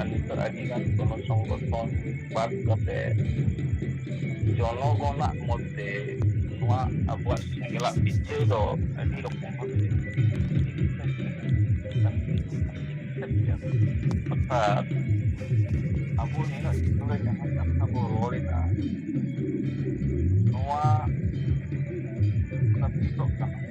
ᱟᱨ ᱱᱤᱛᱚᱜ ᱟᱹᱰᱤ ᱜᱟᱱ ᱜᱚᱱᱚ ᱥᱚᱝᱜᱚᱴᱷᱚᱱ ᱵᱟᱫ ᱠᱟᱛᱮ ᱡᱚᱱᱚ ᱜᱚᱱᱟᱜ ᱢᱚᱫᱽᱫᱷᱮ ᱱᱚᱣᱟ ᱟᱵᱚᱣᱟᱜ ᱥᱮᱸᱜᱮᱞᱟᱜ ᱯᱤᱪᱷᱟᱹ ᱫᱚ ᱟᱹᱰᱤ ᱨᱚᱠᱚᱢ ᱟᱨ ᱟᱵᱚ ᱱᱤᱱᱟᱹᱜ ᱫᱤᱱ ᱨᱮ ᱡᱟᱦᱟᱸ ᱠᱟᱛᱷᱟ ᱵᱚ ᱨᱚᱲ ᱮᱫᱟ ᱱᱚᱣᱟ ᱠᱟᱱᱟ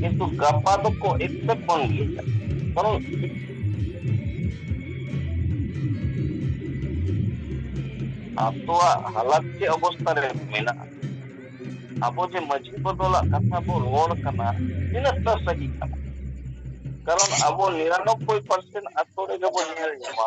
ᱠᱤᱱᱛᱩ ᱜᱟᱯᱟ ᱫᱚᱠᱚ ᱮᱠᱥᱮᱯᱴ ᱵᱟᱝ ᱜᱮᱭᱟ ᱠᱟᱨᱚᱱ ᱟᱛᱳᱣᱟᱜ ᱦᱟᱞᱟᱛ ᱪᱮᱫ ᱚᱵᱚᱥᱛᱟ ᱨᱮ ᱢᱮᱱᱟᱜᱼᱟ ᱟᱵᱚ ᱡᱮ ᱢᱟᱺᱡᱷᱤ ᱵᱚᱫᱚᱞᱟᱜ ᱠᱟᱛᱷᱟ ᱵᱚ ᱨᱚᱲ ᱠᱟᱱᱟ ᱛᱤᱱᱟᱹᱜ ᱴᱟ ᱥᱟᱹᱦᱤ ᱠᱟᱱᱟ ᱠᱟᱨᱚᱱ ᱟᱵᱚ ᱱᱤᱨᱟᱱᱚᱵᱵᱳᱭ ᱯᱟᱨᱥᱮᱱ ᱟᱛᱳ ᱨᱮᱜᱮ ᱵᱚᱱ ᱧᱮᱞ ᱧᱟᱢᱟ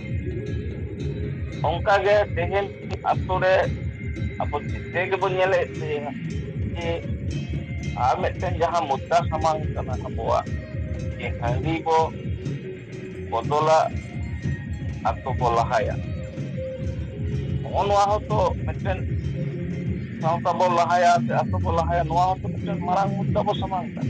ᱚᱱᱠᱟ ᱜᱮ ᱛᱮᱦᱮᱧ ᱟᱛᱳ ᱨᱮ ᱟᱵᱚ ᱡᱮᱛᱮ ᱜᱮᱵᱚᱱ ᱧᱮᱞᱮᱫ ᱛᱟᱦᱮᱸᱱᱟ ᱡᱮ ᱟᱨ ᱢᱤᱫᱴᱮᱱ ᱡᱟᱦᱟᱸ ᱢᱩᱫᱽᱫᱟ ᱥᱟᱢᱟᱝ ᱠᱟᱱᱟ ᱟᱵᱚᱣᱟᱜ ᱡᱮ ᱦᱟᱺᱰᱤ ᱵᱚ ᱵᱚᱫᱚᱞᱟ ᱟᱛᱳ ᱵᱚ ᱞᱟᱦᱟᱭᱟ ᱱᱚᱜᱼᱚ ᱱᱚᱣᱟ ᱦᱚᱸᱛᱚ ᱢᱤᱫᱴᱮᱱ ᱥᱟᱶᱛᱟ ᱵᱚ ᱞᱟᱦᱟᱭᱟ ᱥᱮ ᱟᱛᱳ ᱵᱚ ᱞᱟᱦᱟᱭᱟ ᱱᱚᱣᱟ ᱦᱚᱸᱛᱚ ᱢᱤᱫᱴᱮᱱ ᱢᱟᱨᱟᱝ ᱢᱩᱫᱽᱫᱟ ᱵᱚ ᱥᱟᱢᱟᱝ ᱠᱟᱜ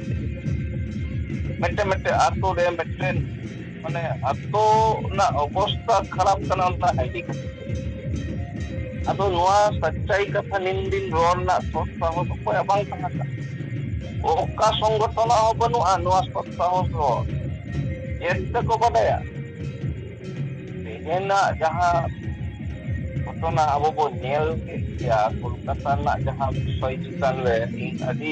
ᱢᱤᱫᱴᱮᱱ ᱢᱤᱫᱴᱮᱱ ᱟᱛᱳ ᱨᱮ ᱢᱤᱫᱴᱮᱱ ᱢᱟᱱᱮ ᱟᱛᱳ ᱨᱮᱱᱟᱜ ᱚᱵᱚᱥᱛᱟ ᱠᱷᱟᱨᱟᱯ ᱠᱟᱱᱟ ᱚᱱᱟ ᱟᱭᱰᱤ ᱠᱷᱟᱹᱛᱤᱨ ᱟᱫᱚ ᱱᱚᱣᱟ ᱥᱟᱪᱪᱟᱭ ᱠᱟᱛᱷᱟ ᱱᱤᱱ ᱫᱤᱱ ᱨᱚᱲ ᱨᱮᱱᱟᱜ ᱥᱚᱥᱛᱟ ᱦᱚᱸ ᱚᱠᱚᱭᱟᱜ ᱵᱟᱝ ᱛᱟᱦᱮᱸ ᱠᱟᱱᱟ ᱚᱠᱟ ᱥᱚᱝᱜᱚᱴᱷᱚᱱᱟᱜ ᱦᱚᱸ ᱵᱟᱹᱱᱩᱜᱼᱟ ᱱᱚᱣᱟ ᱥᱚᱥᱛᱟ ᱦᱚᱸ ᱨᱚᱲ ᱪᱮᱫ ᱛᱮᱠᱚ ᱵᱟᱰᱟᱭᱟ ᱛᱮᱦᱮᱧᱟᱜ ᱡᱟᱦᱟᱸ ᱜᱷᱚᱴᱚᱱᱟ ᱟᱵᱚ ᱵᱚᱱ ᱧᱮᱞ ᱠᱮᱫ ᱜᱮᱭᱟ ᱠᱳᱞᱠᱟᱛᱟ ᱨᱮᱱᱟᱜ ᱡᱟᱦᱟᱸ ᱵᱤᱥᱚᱭ ᱪᱮᱛᱟᱱ ᱨᱮ ᱤᱧ ᱟᱹᱰᱤ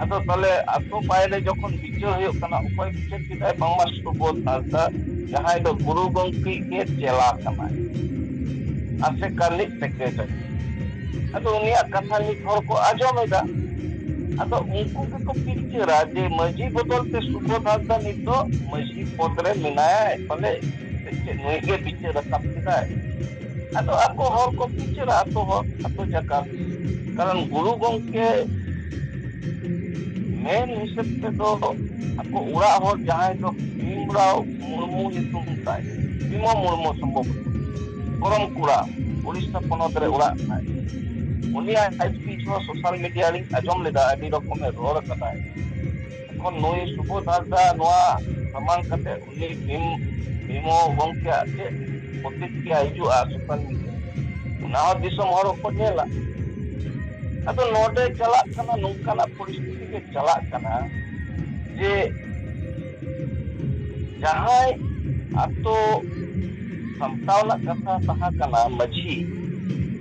ᱟᱫᱚ ᱛᱟᱦᱚᱞᱮ ᱟᱛᱳ ᱵᱟᱭᱨᱮ ᱡᱚᱠᱷᱚᱱ ᱵᱤᱪᱟᱹᱨ ᱦᱩᱭᱩᱜ ᱠᱟᱱᱟ ᱚᱠᱚᱭ ᱵᱤᱪᱟᱹᱨ ᱠᱮᱫᱟᱭ ᱵᱟᱝᱢᱟ ᱥᱩᱵᱳᱫᱷ ᱦᱟᱸᱥᱫᱟ ᱡᱟᱦᱟᱸᱭ ᱫᱚ ᱜᱩᱨᱩ ᱜᱚᱢᱠᱮ ᱜᱮ ᱪᱮᱞᱟ ᱠᱟᱱᱟᱭ ᱟᱥᱮᱠᱟ ᱨᱤᱱᱤᱡ ᱥᱮᱠᱨᱮᱴᱟᱨᱤ ᱟᱫᱚ ᱩᱱᱤᱭᱟᱜ ᱠᱟᱛᱷᱟ ᱢᱤᱫ ᱦᱚᱲ ᱠᱚ ᱟᱸᱡᱚᱢ ᱮᱫᱟ ᱟᱫᱚ ᱩᱱᱠᱩ ᱜᱮᱠᱚ ᱯᱤᱠᱪᱟᱹᱨᱟ ᱡᱮ ᱢᱟᱺᱡᱷᱤ ᱵᱚᱫᱚᱞ ᱛᱮ ᱥᱩᱵᱳᱫᱷ ᱦᱟᱸᱥᱫᱟ ᱱᱤᱛ ᱫᱚ ᱢᱟᱺᱡᱷᱤ ᱯᱚᱫᱽ ᱨᱮ ᱢᱮᱱᱟᱭᱟ ᱯᱟᱞᱮ ᱥᱮ ᱪᱮᱫ ᱱᱩᱭ ᱜᱮ ᱵᱤᱪᱟᱹᱨ ᱨᱟᱠᱟᱵ ᱠᱮᱫᱟᱭ ᱟᱫᱚ ᱟᱠᱚ ᱦᱚᱲ ᱠᱚ ᱵᱤᱪᱟᱹᱨᱟ ᱟᱠᱚ ᱦᱚᱲ ᱟᱠᱚ ᱡᱟᱠᱟᱛ ᱠᱟᱨᱚᱱ ᱜᱩᱨᱩ ᱜᱚᱝᱠᱮ ᱢᱮᱱ ᱦᱤᱥᱟᱹᱵ ᱛᱮᱫᱚ ᱟᱠᱚ ᱚᱲᱟᱜ ᱦᱚᱲ ᱡᱟᱦᱟᱸᱭ ᱫᱚ ᱵᱷᱤᱢᱨᱟᱣ ᱢᱩᱨᱢᱩ ᱧᱩᱛᱩᱢ ᱛᱟᱭ ᱵᱷᱤᱢᱚ ᱢᱩᱨᱢᱩ ᱥᱚᱢᱵᱷᱚᱵ ᱠᱚᱨᱚᱢ ᱠᱚᱲᱟ ᱩᱲᱤᱥᱥᱟ ᱯᱚᱱᱚᱛ ᱨᱮ ᱚᱲᱟᱜ ᱛᱟᱭ ᱩᱱᱤᱭᱟᱜ ᱥᱳᱥᱟᱞ ᱢᱤᱰᱤᱭᱟ ᱨᱤᱧ ᱟᱸᱡᱚᱢ ᱞᱮᱫᱟ ᱟᱹᱰᱤ ᱨᱚᱠᱚᱢᱮ ᱨᱚᱲ ᱠᱟᱫᱟᱭ ᱮᱠᱷᱚᱱ ᱱᱩᱭ ᱥᱩᱵᱚᱫᱷ ᱦᱟᱸᱥᱫᱟ ᱱᱚᱣᱟ ᱥᱟᱢᱟᱝ ᱠᱟᱛᱮ ᱩᱱᱤ ᱵᱷᱤᱢ ᱵᱷᱤᱢᱚ ᱜᱚᱝᱠᱮᱭᱟᱜ ᱪᱮᱫ ᱯᱨᱚᱛᱤᱠᱨᱤᱭᱟ ᱦᱤᱡᱩᱜᱼᱟ ᱥᱳᱥᱟᱞ ᱢᱤᱰᱤᱭᱟ ᱨᱮ ᱚᱱᱟ ᱦᱚᱸ ᱫᱤᱥᱚᱢ ᱦᱚᱲ ᱠᱚ ᱧᱮᱞᱟ ᱟᱫᱚ ᱱᱚᱰᱮ ᱪᱟᱞᱟᱜ ᱠᱟᱱᱟ ᱱᱚᱝᱠᱟᱱᱟᱜ ᱯᱚᱨᱤᱥᱛᱷᱤᱛᱤ ᱜᱮ ᱪᱟᱞᱟᱜ ᱠᱟᱱᱟ ᱡᱮ ᱡᱟᱦᱟᱸᱭ ᱟᱛᱳ ᱥᱟᱢᱴᱟᱣ ᱨᱮᱱᱟᱜ ᱠᱟᱛᱷᱟ ᱛᱟᱦᱮᱸ ᱠᱟᱱᱟ ᱢᱟᱺᱡᱷᱤ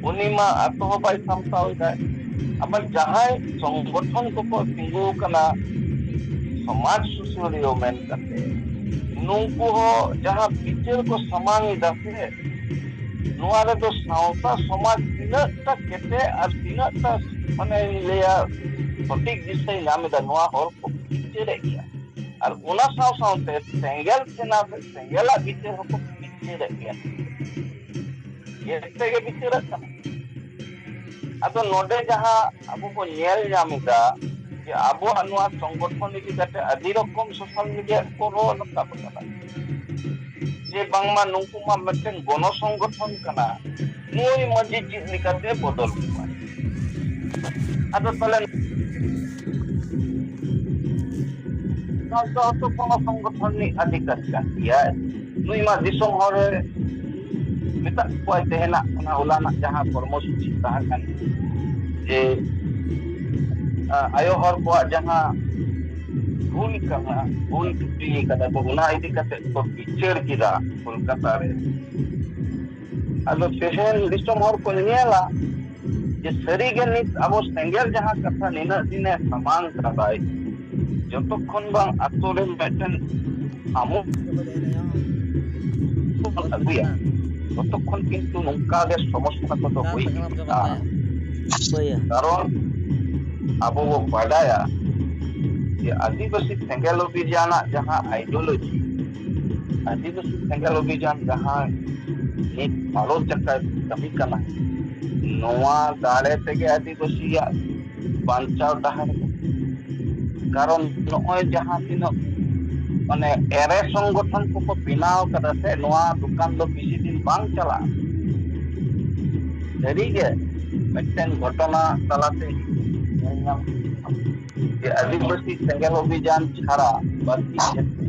ᱩᱱᱤ ᱢᱟ ᱟᱛᱳ ᱦᱚᱸ ᱵᱟᱭ ᱥᱟᱢᱴᱟᱣ ᱮᱫᱟ ᱟᱵᱟᱨ ᱡᱟᱦᱟᱸᱭ ᱥᱚᱝᱜᱚᱴᱷᱚᱱ ᱠᱚᱠᱚ ᱛᱤᱸᱜᱩ ᱟᱠᱟᱱᱟ ᱥᱚᱢᱟᱡᱽ ᱥᱩᱥᱟᱹᱨᱤᱭᱟᱹ ᱢᱮᱱ ᱠᱟᱛᱮ ᱱᱩᱠᱩ ᱦᱚᱸ ᱡᱟᱦᱟᱸ ᱵᱤᱪᱟᱹᱨ ᱠᱚ ᱥᱟᱢᱟᱝ ᱮᱫᱟ ᱥᱮ ᱱᱚᱣᱟ ᱨᱮᱫᱚ ᱥᱟᱶᱛᱟ ᱥᱚᱢᱟᱡᱽ ᱛᱤᱱᱟᱹᱜ ᱴᱟ ᱠᱮᱴᱮᱡ ᱟᱨ ᱛᱤᱱᱟᱹᱜ ᱴᱟ ᱢᱟᱱᱮᱧ ᱞᱟᱹᱭᱟ ᱥᱚᱴᱷᱤᱠ ᱫᱤᱥᱟᱹᱭ ᱧᱟᱢ ᱮᱫᱟ ᱱᱚᱣᱟ ᱦᱚᱲ ᱠᱚ ᱵᱤᱪᱟᱹᱨᱮᱫ ᱜᱮᱭᱟ ᱟᱨ ᱚᱱᱟ ᱥᱟᱶ ᱥᱟᱶᱛᱮ ᱥᱮᱸᱜᱮᱞ ᱥᱮᱱᱟ ᱥᱮᱸᱜᱮᱞᱟᱜ ᱵᱤᱪᱟᱹᱨ ᱦᱚᱸᱠᱚ ᱵᱤᱪᱟᱹᱨᱮᱫ ᱜᱮᱭᱟ ᱜᱮᱥ ᱛᱮᱜᱮ ᱵᱤᱪᱟᱹᱨᱟᱜ ᱠᱟᱱᱟ ᱟᱫᱚ ᱱᱚᱰᱮ ᱡᱟᱦᱟᱸ ᱟᱵᱚ ᱵᱚ ᱧᱮᱞ ᱧᱟᱢ ᱮᱫᱟ ᱡᱮ ᱟᱵᱚᱣᱟᱜ ᱱᱚᱣᱟ ᱥᱚᱝᱜᱚᱴᱷᱚᱱ ᱤᱫᱤ ᱠᱟᱛᱮ ᱟᱹᱰᱤ ᱨᱚᱠᱚᱢ ᱥᱳᱥᱟᱞ ᱢᱤᱰᱤᱭᱟ ᱨᱮᱠᱚ ᱨᱚᱲ ᱨᱟᱠᱟᱵ ᱟᱠᱟᱫᱟ ᱡᱮ ᱵᱟᱝᱢᱟ ᱱᱩᱠᱩ ᱢᱟ ᱢᱤᱫᱴᱮᱱ ᱜᱚᱱᱚ ᱥᱚᱝᱜᱚᱴᱷᱚᱱ ᱠᱟᱱᱟ ᱱᱩᱭ ᱢᱟᱺᱡᱷᱤ ᱪᱮᱫ ᱞᱮᱠᱟᱛᱮ ᱵᱚᱫᱚᱞ ᱠᱚᱣᱟᱭ ᱟᱫᱚ ᱛᱟᱦᱚᱞᱮ ᱥᱟᱶᱛᱟ ᱦᱚᱸᱛᱚ ᱠᱚᱱᱚ ᱥᱚᱝᱜᱚᱴᱷᱚᱱ ᱨᱤᱱᱤᱡ ᱟᱹᱫᱷᱤᱠᱟᱨ ᱠᱟᱱ ᱜᱮᱭᱟᱭ ᱱᱩᱭ ᱢᱟ ᱫᱤᱥᱚᱢ ᱦᱚᱲ ᱮ ᱢᱮᱛᱟᱜ ᱠᱚᱣᱟᱭ ᱛᱮᱦᱮᱱᱟᱜ ᱚᱱᱟ ᱦᱚᱞᱟᱱᱟᱜ ᱡᱟᱦᱟᱸ ᱠᱚᱨᱢᱚ ᱥᱩᱪᱤ ᱛᱟᱦᱮᱸ ᱠᱟᱱ ᱡᱮ ᱟᱭᱳ ᱦᱚᱲ ᱠᱚᱣᱟᱜ ᱡᱟᱦᱟᱸ ᱵᱷᱩᱞ ᱠᱟᱱᱟ ᱵᱷᱩᱞ ᱛᱷᱩᱛᱤ ᱠᱟᱫᱟ ᱠᱚ ᱚᱱᱟ ᱤᱫᱤ ᱠᱟᱛᱮ ᱠᱚ ᱵᱤᱪᱟᱹᱨ ᱠᱮᱫᱟ ᱠᱳᱞᱠᱟᱛᱟ ᱨᱮ ᱟᱫᱚ ᱛᱮᱦᱮᱧ ᱫᱤᱥᱚᱢ ᱦᱚᱲ ᱠᱚ ᱧᱮᱞᱟ ᱡᱮ ᱥᱟᱹᱨᱤᱜᱮ ᱱᱤᱛ ᱟᱵᱚ ᱥᱮᱸᱜᱮᱞ ᱡᱟᱦᱟᱸ ᱠᱟᱛᱷᱟ ᱱᱤᱱᱟᱹᱜ ᱫᱤᱱᱮ ᱥᱟᱢᱟᱝ ᱠᱟᱫᱟᱭ ᱡᱚᱛᱚ ᱠᱷᱚᱱ ᱵᱟᱝ ᱟᱛᱳ ᱨᱮ ᱢᱤᱫᱴᱮᱱ ᱟᱢᱩ ᱟᱹᱜᱩᱭᱟ ᱛᱚᱛᱚ ᱠᱷᱚᱱ ᱠᱤᱱᱛᱩ ᱱᱚᱝᱠᱟ ᱜᱮ ᱥᱚᱢᱚᱥᱥᱟ ᱠᱚᱫᱚ ᱦᱩᱭ ᱤᱫᱤᱜᱼᱟ ᱠᱟᱨᱚᱱ ᱟᱵᱚ ᱵᱚ ᱵᱟᱰᱟᱭᱟ ᱡᱮ ᱟᱹᱫᱤᱵᱟᱹᱥᱤ ᱥᱮᱸᱜᱮᱞ ᱚᱵᱷᱤᱡᱟᱱᱟᱜ ᱡᱟᱦᱟᱸ ᱟᱭᱤᱰᱤᱭᱳᱞᱚᱡᱤ ᱟᱹᱫᱤᱵᱟᱹᱥᱤ ᱥᱮᱸᱜᱮᱞ ᱚᱵᱷᱤᱡᱟᱱ ᱡᱟᱦᱟᱸ ᱢᱤᱫ ᱵᱷᱟᱞᱚᱥ ᱡᱟᱭᱜᱟᱭ ᱠᱟᱹᱢᱤ ᱠᱟᱱᱟ ᱱᱚᱣᱟ ᱫᱟᱲᱮ ᱛᱮᱜᱮ ᱟᱹᱫᱤᱵᱟᱹᱥᱤᱭᱟᱜ ᱵᱟᱧᱪᱟᱣ ᱰᱟᱦᱟᱨ ᱠᱟᱨᱚᱱ ᱱᱚᱜᱼᱚᱭ ᱡᱟᱦᱟᱸ ᱛᱤᱱᱟᱹᱜ ᱢᱟᱱᱮ ᱮᱲᱮ ᱥᱚᱝᱜᱚᱴᱷᱚᱱ ᱠᱚᱠᱚ ᱵᱮᱱᱟᱣ ᱠᱟᱫᱟ ᱥᱮ ᱱᱚᱣᱟ ᱫᱚᱠᱟᱱ ᱫᱚ ᱵᱮᱥᱤ ᱫᱤᱱ ᱵᱟᱝ ᱪᱟᱞᱟᱜᱼᱟ ᱥᱟᱹᱨᱤ ᱜᱮ ᱢᱤᱫᱴᱮᱱ ᱜᱷᱚᱴᱚᱱᱟ ᱛᱟᱞᱟᱛᱮ ᱧᱮᱞ ᱧᱟᱢ ᱡᱮ ᱟᱹᱫᱤᱵᱟᱹᱥᱤ ᱥᱮᱸᱜᱮᱞ ᱚᱵᱷᱤᱡᱟᱱ ᱪᱷᱟᱲᱟ ᱵᱟᱹᱲᱛᱤ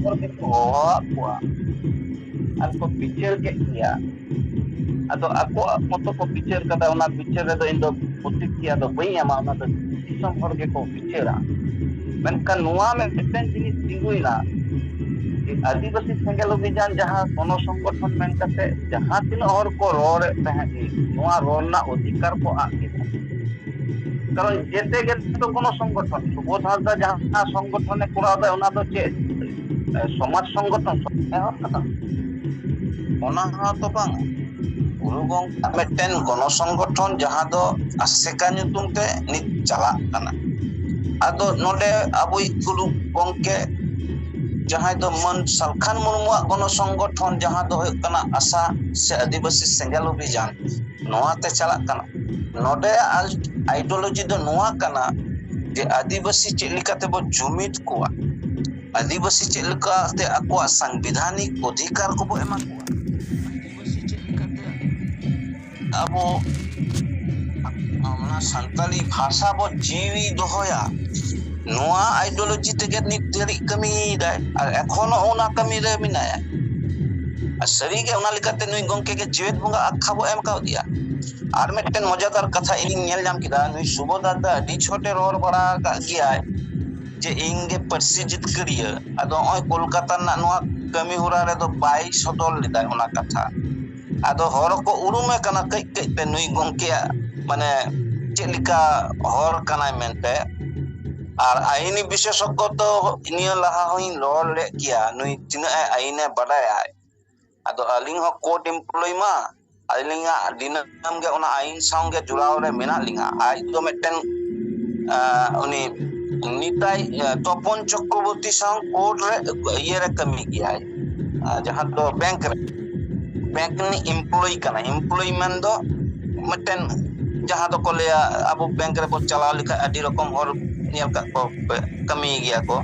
ᱦᱚᱲ ᱜᱮᱠᱚ ᱦᱚᱦᱚᱣᱟᱫ ᱠᱚᱣᱟ ᱟᱨ ᱠᱚ ᱵᱤᱪᱟᱹᱨ ᱠᱮᱫ ᱜᱮᱭᱟ ᱟᱫᱚ ᱟᱠᱚᱣᱟᱜ ᱢᱚᱛᱚ ᱠᱚ ᱵᱤᱪᱟᱹᱨ ᱠᱟᱫᱟ ᱚᱱᱟ ᱵᱤᱪᱟᱹᱨ ᱨᱮᱫᱚ ᱤᱧ ᱫᱚ ᱯᱨᱚᱛᱤᱠᱨᱤᱭᱟ ᱫᱚ ᱵᱟᱹᱧ ᱮᱢᱟ ᱚᱱᱟ ᱫᱚ ᱫᱤᱥᱚᱢ ᱦᱚᱲ ᱜᱮᱠᱚ ᱵᱤᱪᱟᱹᱨᱟ ᱢᱮᱱᱠᱷᱟᱱ ᱱᱚᱣᱟ ᱢᱮ ᱢᱤᱫᱴᱮᱱ ᱡᱤᱱᱤᱥ ᱛᱤᱸᱜᱩᱭᱱᱟ ᱡᱮ ᱟᱹᱫᱤᱵᱟᱹᱥᱤ ᱥᱮᱸᱜᱮᱞ ᱚᱵᱷᱤᱡᱟᱱ ᱡᱟᱦᱟᱸ ᱜᱚᱱᱚ ᱥᱚᱝᱜᱚᱴᱷᱚᱱ ᱢᱮᱱ ᱠᱟᱛᱮ ᱡᱟᱦᱟᱸ ᱛᱤᱱᱟᱹᱜ ᱦᱚᱲ ᱠᱚ ᱨᱚᱲᱮᱫ ᱛᱟᱦᱮᱸᱫ ᱱᱚᱣᱟ ᱨᱚᱲ ᱨᱮᱱᱟᱜ ᱚᱫᱷᱤᱠᱟᱨ ᱠᱚ ᱟᱫ ᱠᱮᱫᱟ ᱠᱟᱨᱚᱱ ᱡᱮᱛᱮ ᱜᱮ ᱛᱚ ᱠᱳᱱᱳ ᱥᱚᱝᱜᱚᱴᱷᱚᱱ ᱥᱩᱵᱳᱫ ᱦᱟᱸᱥᱫᱟ ᱡᱟᱦᱟᱸ ᱥᱚᱝᱜᱚᱴᱷᱚᱱᱮ ᱠᱚᱨᱟᱣ ᱫᱟ ᱚᱱᱟ ᱫᱚ ᱪᱮᱫ ᱥᱚᱢᱟᱡᱽ ᱥᱚᱝᱜᱚᱴᱷᱚᱱ ᱮᱦᱚᱵ ᱠᱟᱫᱟ ᱚᱱᱟ ᱦᱚᱸ ᱛᱚ ᱵᱟᱝ ᱜᱩᱨᱩ ᱜᱚᱝᱠᱮ ᱢᱤᱫᱴᱮᱱ ᱜᱚᱱᱚ ᱥᱚᱝᱜᱚᱴᱷᱚᱱ ᱡᱟᱦᱟᱸ ᱫᱚ ᱟᱥᱮᱠᱟ ᱧᱩᱛᱩᱢ ᱛᱮ ᱱᱤᱛ ᱪᱟᱞᱟᱜ ᱠᱟᱱᱟ ᱟᱫᱚ ᱱᱚᱰᱮ ᱟᱵᱚᱭᱤᱡ ᱜᱩᱨᱩ ᱜᱚᱝᱠᱮ ᱡᱟᱦᱟᱸᱭ ᱫᱚ ᱢᱟᱹᱱ ᱥᱟᱞᱠᱷᱟᱱ ᱢᱩᱨᱢᱩᱣᱟᱜ ᱜᱚᱱᱚ ᱥᱚᱝᱜᱚᱴᱷᱚᱱ ᱡᱟᱦᱟᱸ ᱫᱚ ᱦᱩᱭᱩᱜ ᱠᱟᱱᱟ ᱟᱥᱟ ᱥᱮ ᱟᱹᱫᱤᱵᱟᱹᱥᱤ ᱥᱮᱸᱜᱮᱞ ᱚᱵᱷᱤᱡᱟᱱ ᱱᱚᱣᱟᱛᱮ ᱪᱟᱞᱟᱜ ᱠᱟᱱᱟ ᱱᱚᱰᱮ ᱟᱭᱤᱰᱳᱞᱚᱡᱤ ᱫᱚ ᱱᱚᱣᱟ ᱠᱟᱱᱟ ᱡᱮ ᱟᱹᱫᱤᱵᱟᱹᱥᱤ ᱪᱮᱫ ᱞᱮᱠᱟ ᱛᱮᱵᱚ ᱡᱩᱢᱤᱫ ᱠᱚᱣᱟ ᱟᱹᱫᱤᱵᱟᱹᱥᱤ ᱪᱮᱫ ᱞᱮᱠᱟᱛᱮ ᱟᱠᱚᱣᱟᱜ ᱥᱟᱝᱵᱤᱫᱷᱟᱱᱤᱠ ᱚᱫᱷᱤᱠᱟᱨ ᱠᱚᱵᱚ ᱮᱢᱟ ᱠᱚᱣᱟ ᱟᱹᱫᱤᱵᱟᱹᱥᱤ ᱪᱮᱫ ᱞᱮᱠᱟᱛᱮ ᱟᱵᱚ ᱚᱱᱟ ᱥᱟᱱᱛᱟᱞᱤ ᱵᱷᱟᱥᱟ ᱵᱚ ᱡᱤᱣᱤ ᱫᱚᱦᱚᱭᱟ ᱱᱚᱣᱟ ᱟᱭᱤᱰᱳᱞᱚᱡᱤ ᱛᱮᱜᱮ ᱱᱤᱛ ᱫᱷᱟᱹᱨᱤᱡ ᱠᱟᱹᱢᱤᱭᱮᱫᱟᱭ ᱟᱨ ᱮᱠᱷᱚᱱᱚ ᱚᱱᱟ ᱠᱟᱹᱢᱤᱨᱮ ᱢᱮᱱᱟᱭᱟ ᱟᱨ ᱥᱟᱹᱨᱤᱜᱮ ᱚᱱᱟ ᱞᱮᱠᱟᱛᱮ ᱱᱩᱭ ᱜᱚᱝᱠᱮ ᱜᱮ ᱡᱮᱣᱮᱫ ᱵᱚᱸᱜᱟ ᱟᱠᱠᱷᱟ ᱵᱚ ᱮᱢ ᱠᱟᱣᱫᱮᱭᱟ ᱾ ᱟᱨ ᱢᱤᱫᱴᱮᱱ ᱢᱚᱡᱮᱫᱟᱨ ᱠᱟᱛᱷᱟ ᱤᱧᱤᱧ ᱧᱮᱞ ᱧᱟᱢ ᱠᱮᱫᱟ ᱱᱩᱭ ᱥᱩᱵᱷᱚᱫᱟᱨ ᱫᱚ ᱟᱹᱰᱤ ᱪᱷᱚᱴᱮ ᱨᱚᱲ ᱵᱟᱲᱟ ᱟᱠᱟᱫ ᱜᱮᱭᱟᱭ ᱾ ᱡᱮ ᱤᱧ ᱜᱮ ᱯᱟᱹᱨᱥᱤ ᱡᱤᱛᱠᱟᱹᱨᱤᱭᱟᱹ ᱟᱫᱚ ᱱᱚᱜᱼᱚᱭ ᱠᱳᱞᱠᱟᱛᱟ ᱨᱮᱱᱟᱜ ᱱᱚᱣᱟ ᱠᱟᱹᱢᱤ ᱦᱚᱨᱟ ᱨᱮᱫᱚ ᱵᱟᱭ ᱥᱚᱫᱚᱨ ᱞᱮᱫᱟᱭ ᱚᱱᱟ ᱠᱟᱛᱷᱟ ᱾ ᱟᱫᱚ ᱦᱚᱲ ᱦᱚᱸᱠᱚ ᱩᱨᱩᱢᱮ ᱠᱟᱱᱟ ᱠᱟᱹᱡ ᱠᱟᱹᱡ ᱛᱮ ᱱᱩᱭ ᱜᱚᱢᱠᱮᱭᱟᱜ ᱢᱟᱱᱮ ᱪᱮᱫ ᱞᱮᱠᱟ ᱦᱚᱲ ᱠᱟᱱᱟᱭ ᱢᱮᱱᱛᱮ ᱟᱨ ᱟᱭᱤᱱᱤ ᱵᱤᱥᱮᱥᱚᱠᱠᱚ ᱫᱚ ᱱᱤᱭᱟᱹ ᱞᱟᱦᱟ ᱦᱚᱧ ᱨᱚᱲ ᱞᱮᱫ ᱜᱮᱭᱟ ᱱᱩᱭ ᱛᱤᱱᱟᱹᱜ ᱮ ᱟᱭᱤᱱᱮ ᱵᱟᱰᱟᱭᱟᱭ ᱟᱫᱚ ᱟᱹᱞᱤᱧ ᱦᱚᱸ ᱠᱳᱨᱴ ᱮᱢᱯᱞᱚᱭ ᱢᱟ ᱟᱹᱞᱤᱧᱟᱜ ᱫᱤᱱᱟᱹᱢ ᱜᱮ ᱚᱱᱟ ᱟᱭᱤᱱ ᱥᱟᱶᱜᱮ ᱡᱚᱲᱟᱣ ᱨᱮ ᱢᱮᱱᱟᱜ ᱞᱤᱧᱟ ᱟᱡ ᱫᱚ ᱢᱤᱫᱴᱮᱱ ᱩᱱᱤ ᱱᱤᱛᱟᱭ ᱛᱚᱯᱚᱱ ᱪᱚᱠᱨᱚᱵᱚᱨᱛᱤ ᱥᱟᱶ ᱠᱳᱨᱴ ᱨᱮ ᱤᱭᱟᱹᱨᱮ ᱠᱟᱹᱢᱤ ᱜᱮᱭᱟᱭ ᱟᱨ ᱡᱟᱦᱟᱸ ᱫᱚ ᱵᱮᱝᱠ ᱨᱮ ᱵᱮᱝᱠ ᱨᱤᱱᱤᱡ ᱮᱢᱯᱞᱚᱭᱤ ᱠᱟᱱᱟᱭ ᱮᱢᱯᱞᱚᱭᱤ ᱢᱮᱱ ᱫᱚ ᱢᱤᱫᱴᱮᱱ ᱡᱟᱦᱟᱸ ᱫᱚᱠᱚ ᱞᱟᱹᱭᱟ ᱟᱵᱚ ᱵᱮᱝᱠ ᱨᱮᱵᱚᱱ ᱪᱟᱞᱟᱣ ᱞᱮᱠᱷᱟᱡ ᱟᱹᱰᱤ ᱨᱚᱠᱚᱢ ᱦᱚᱲ ᱧᱮᱞ ᱠᱟᱜ ᱠᱚᱣᱟ ᱯᱮ ᱠᱟᱹᱢᱤᱭ ᱜᱮᱭᱟ ᱠᱚ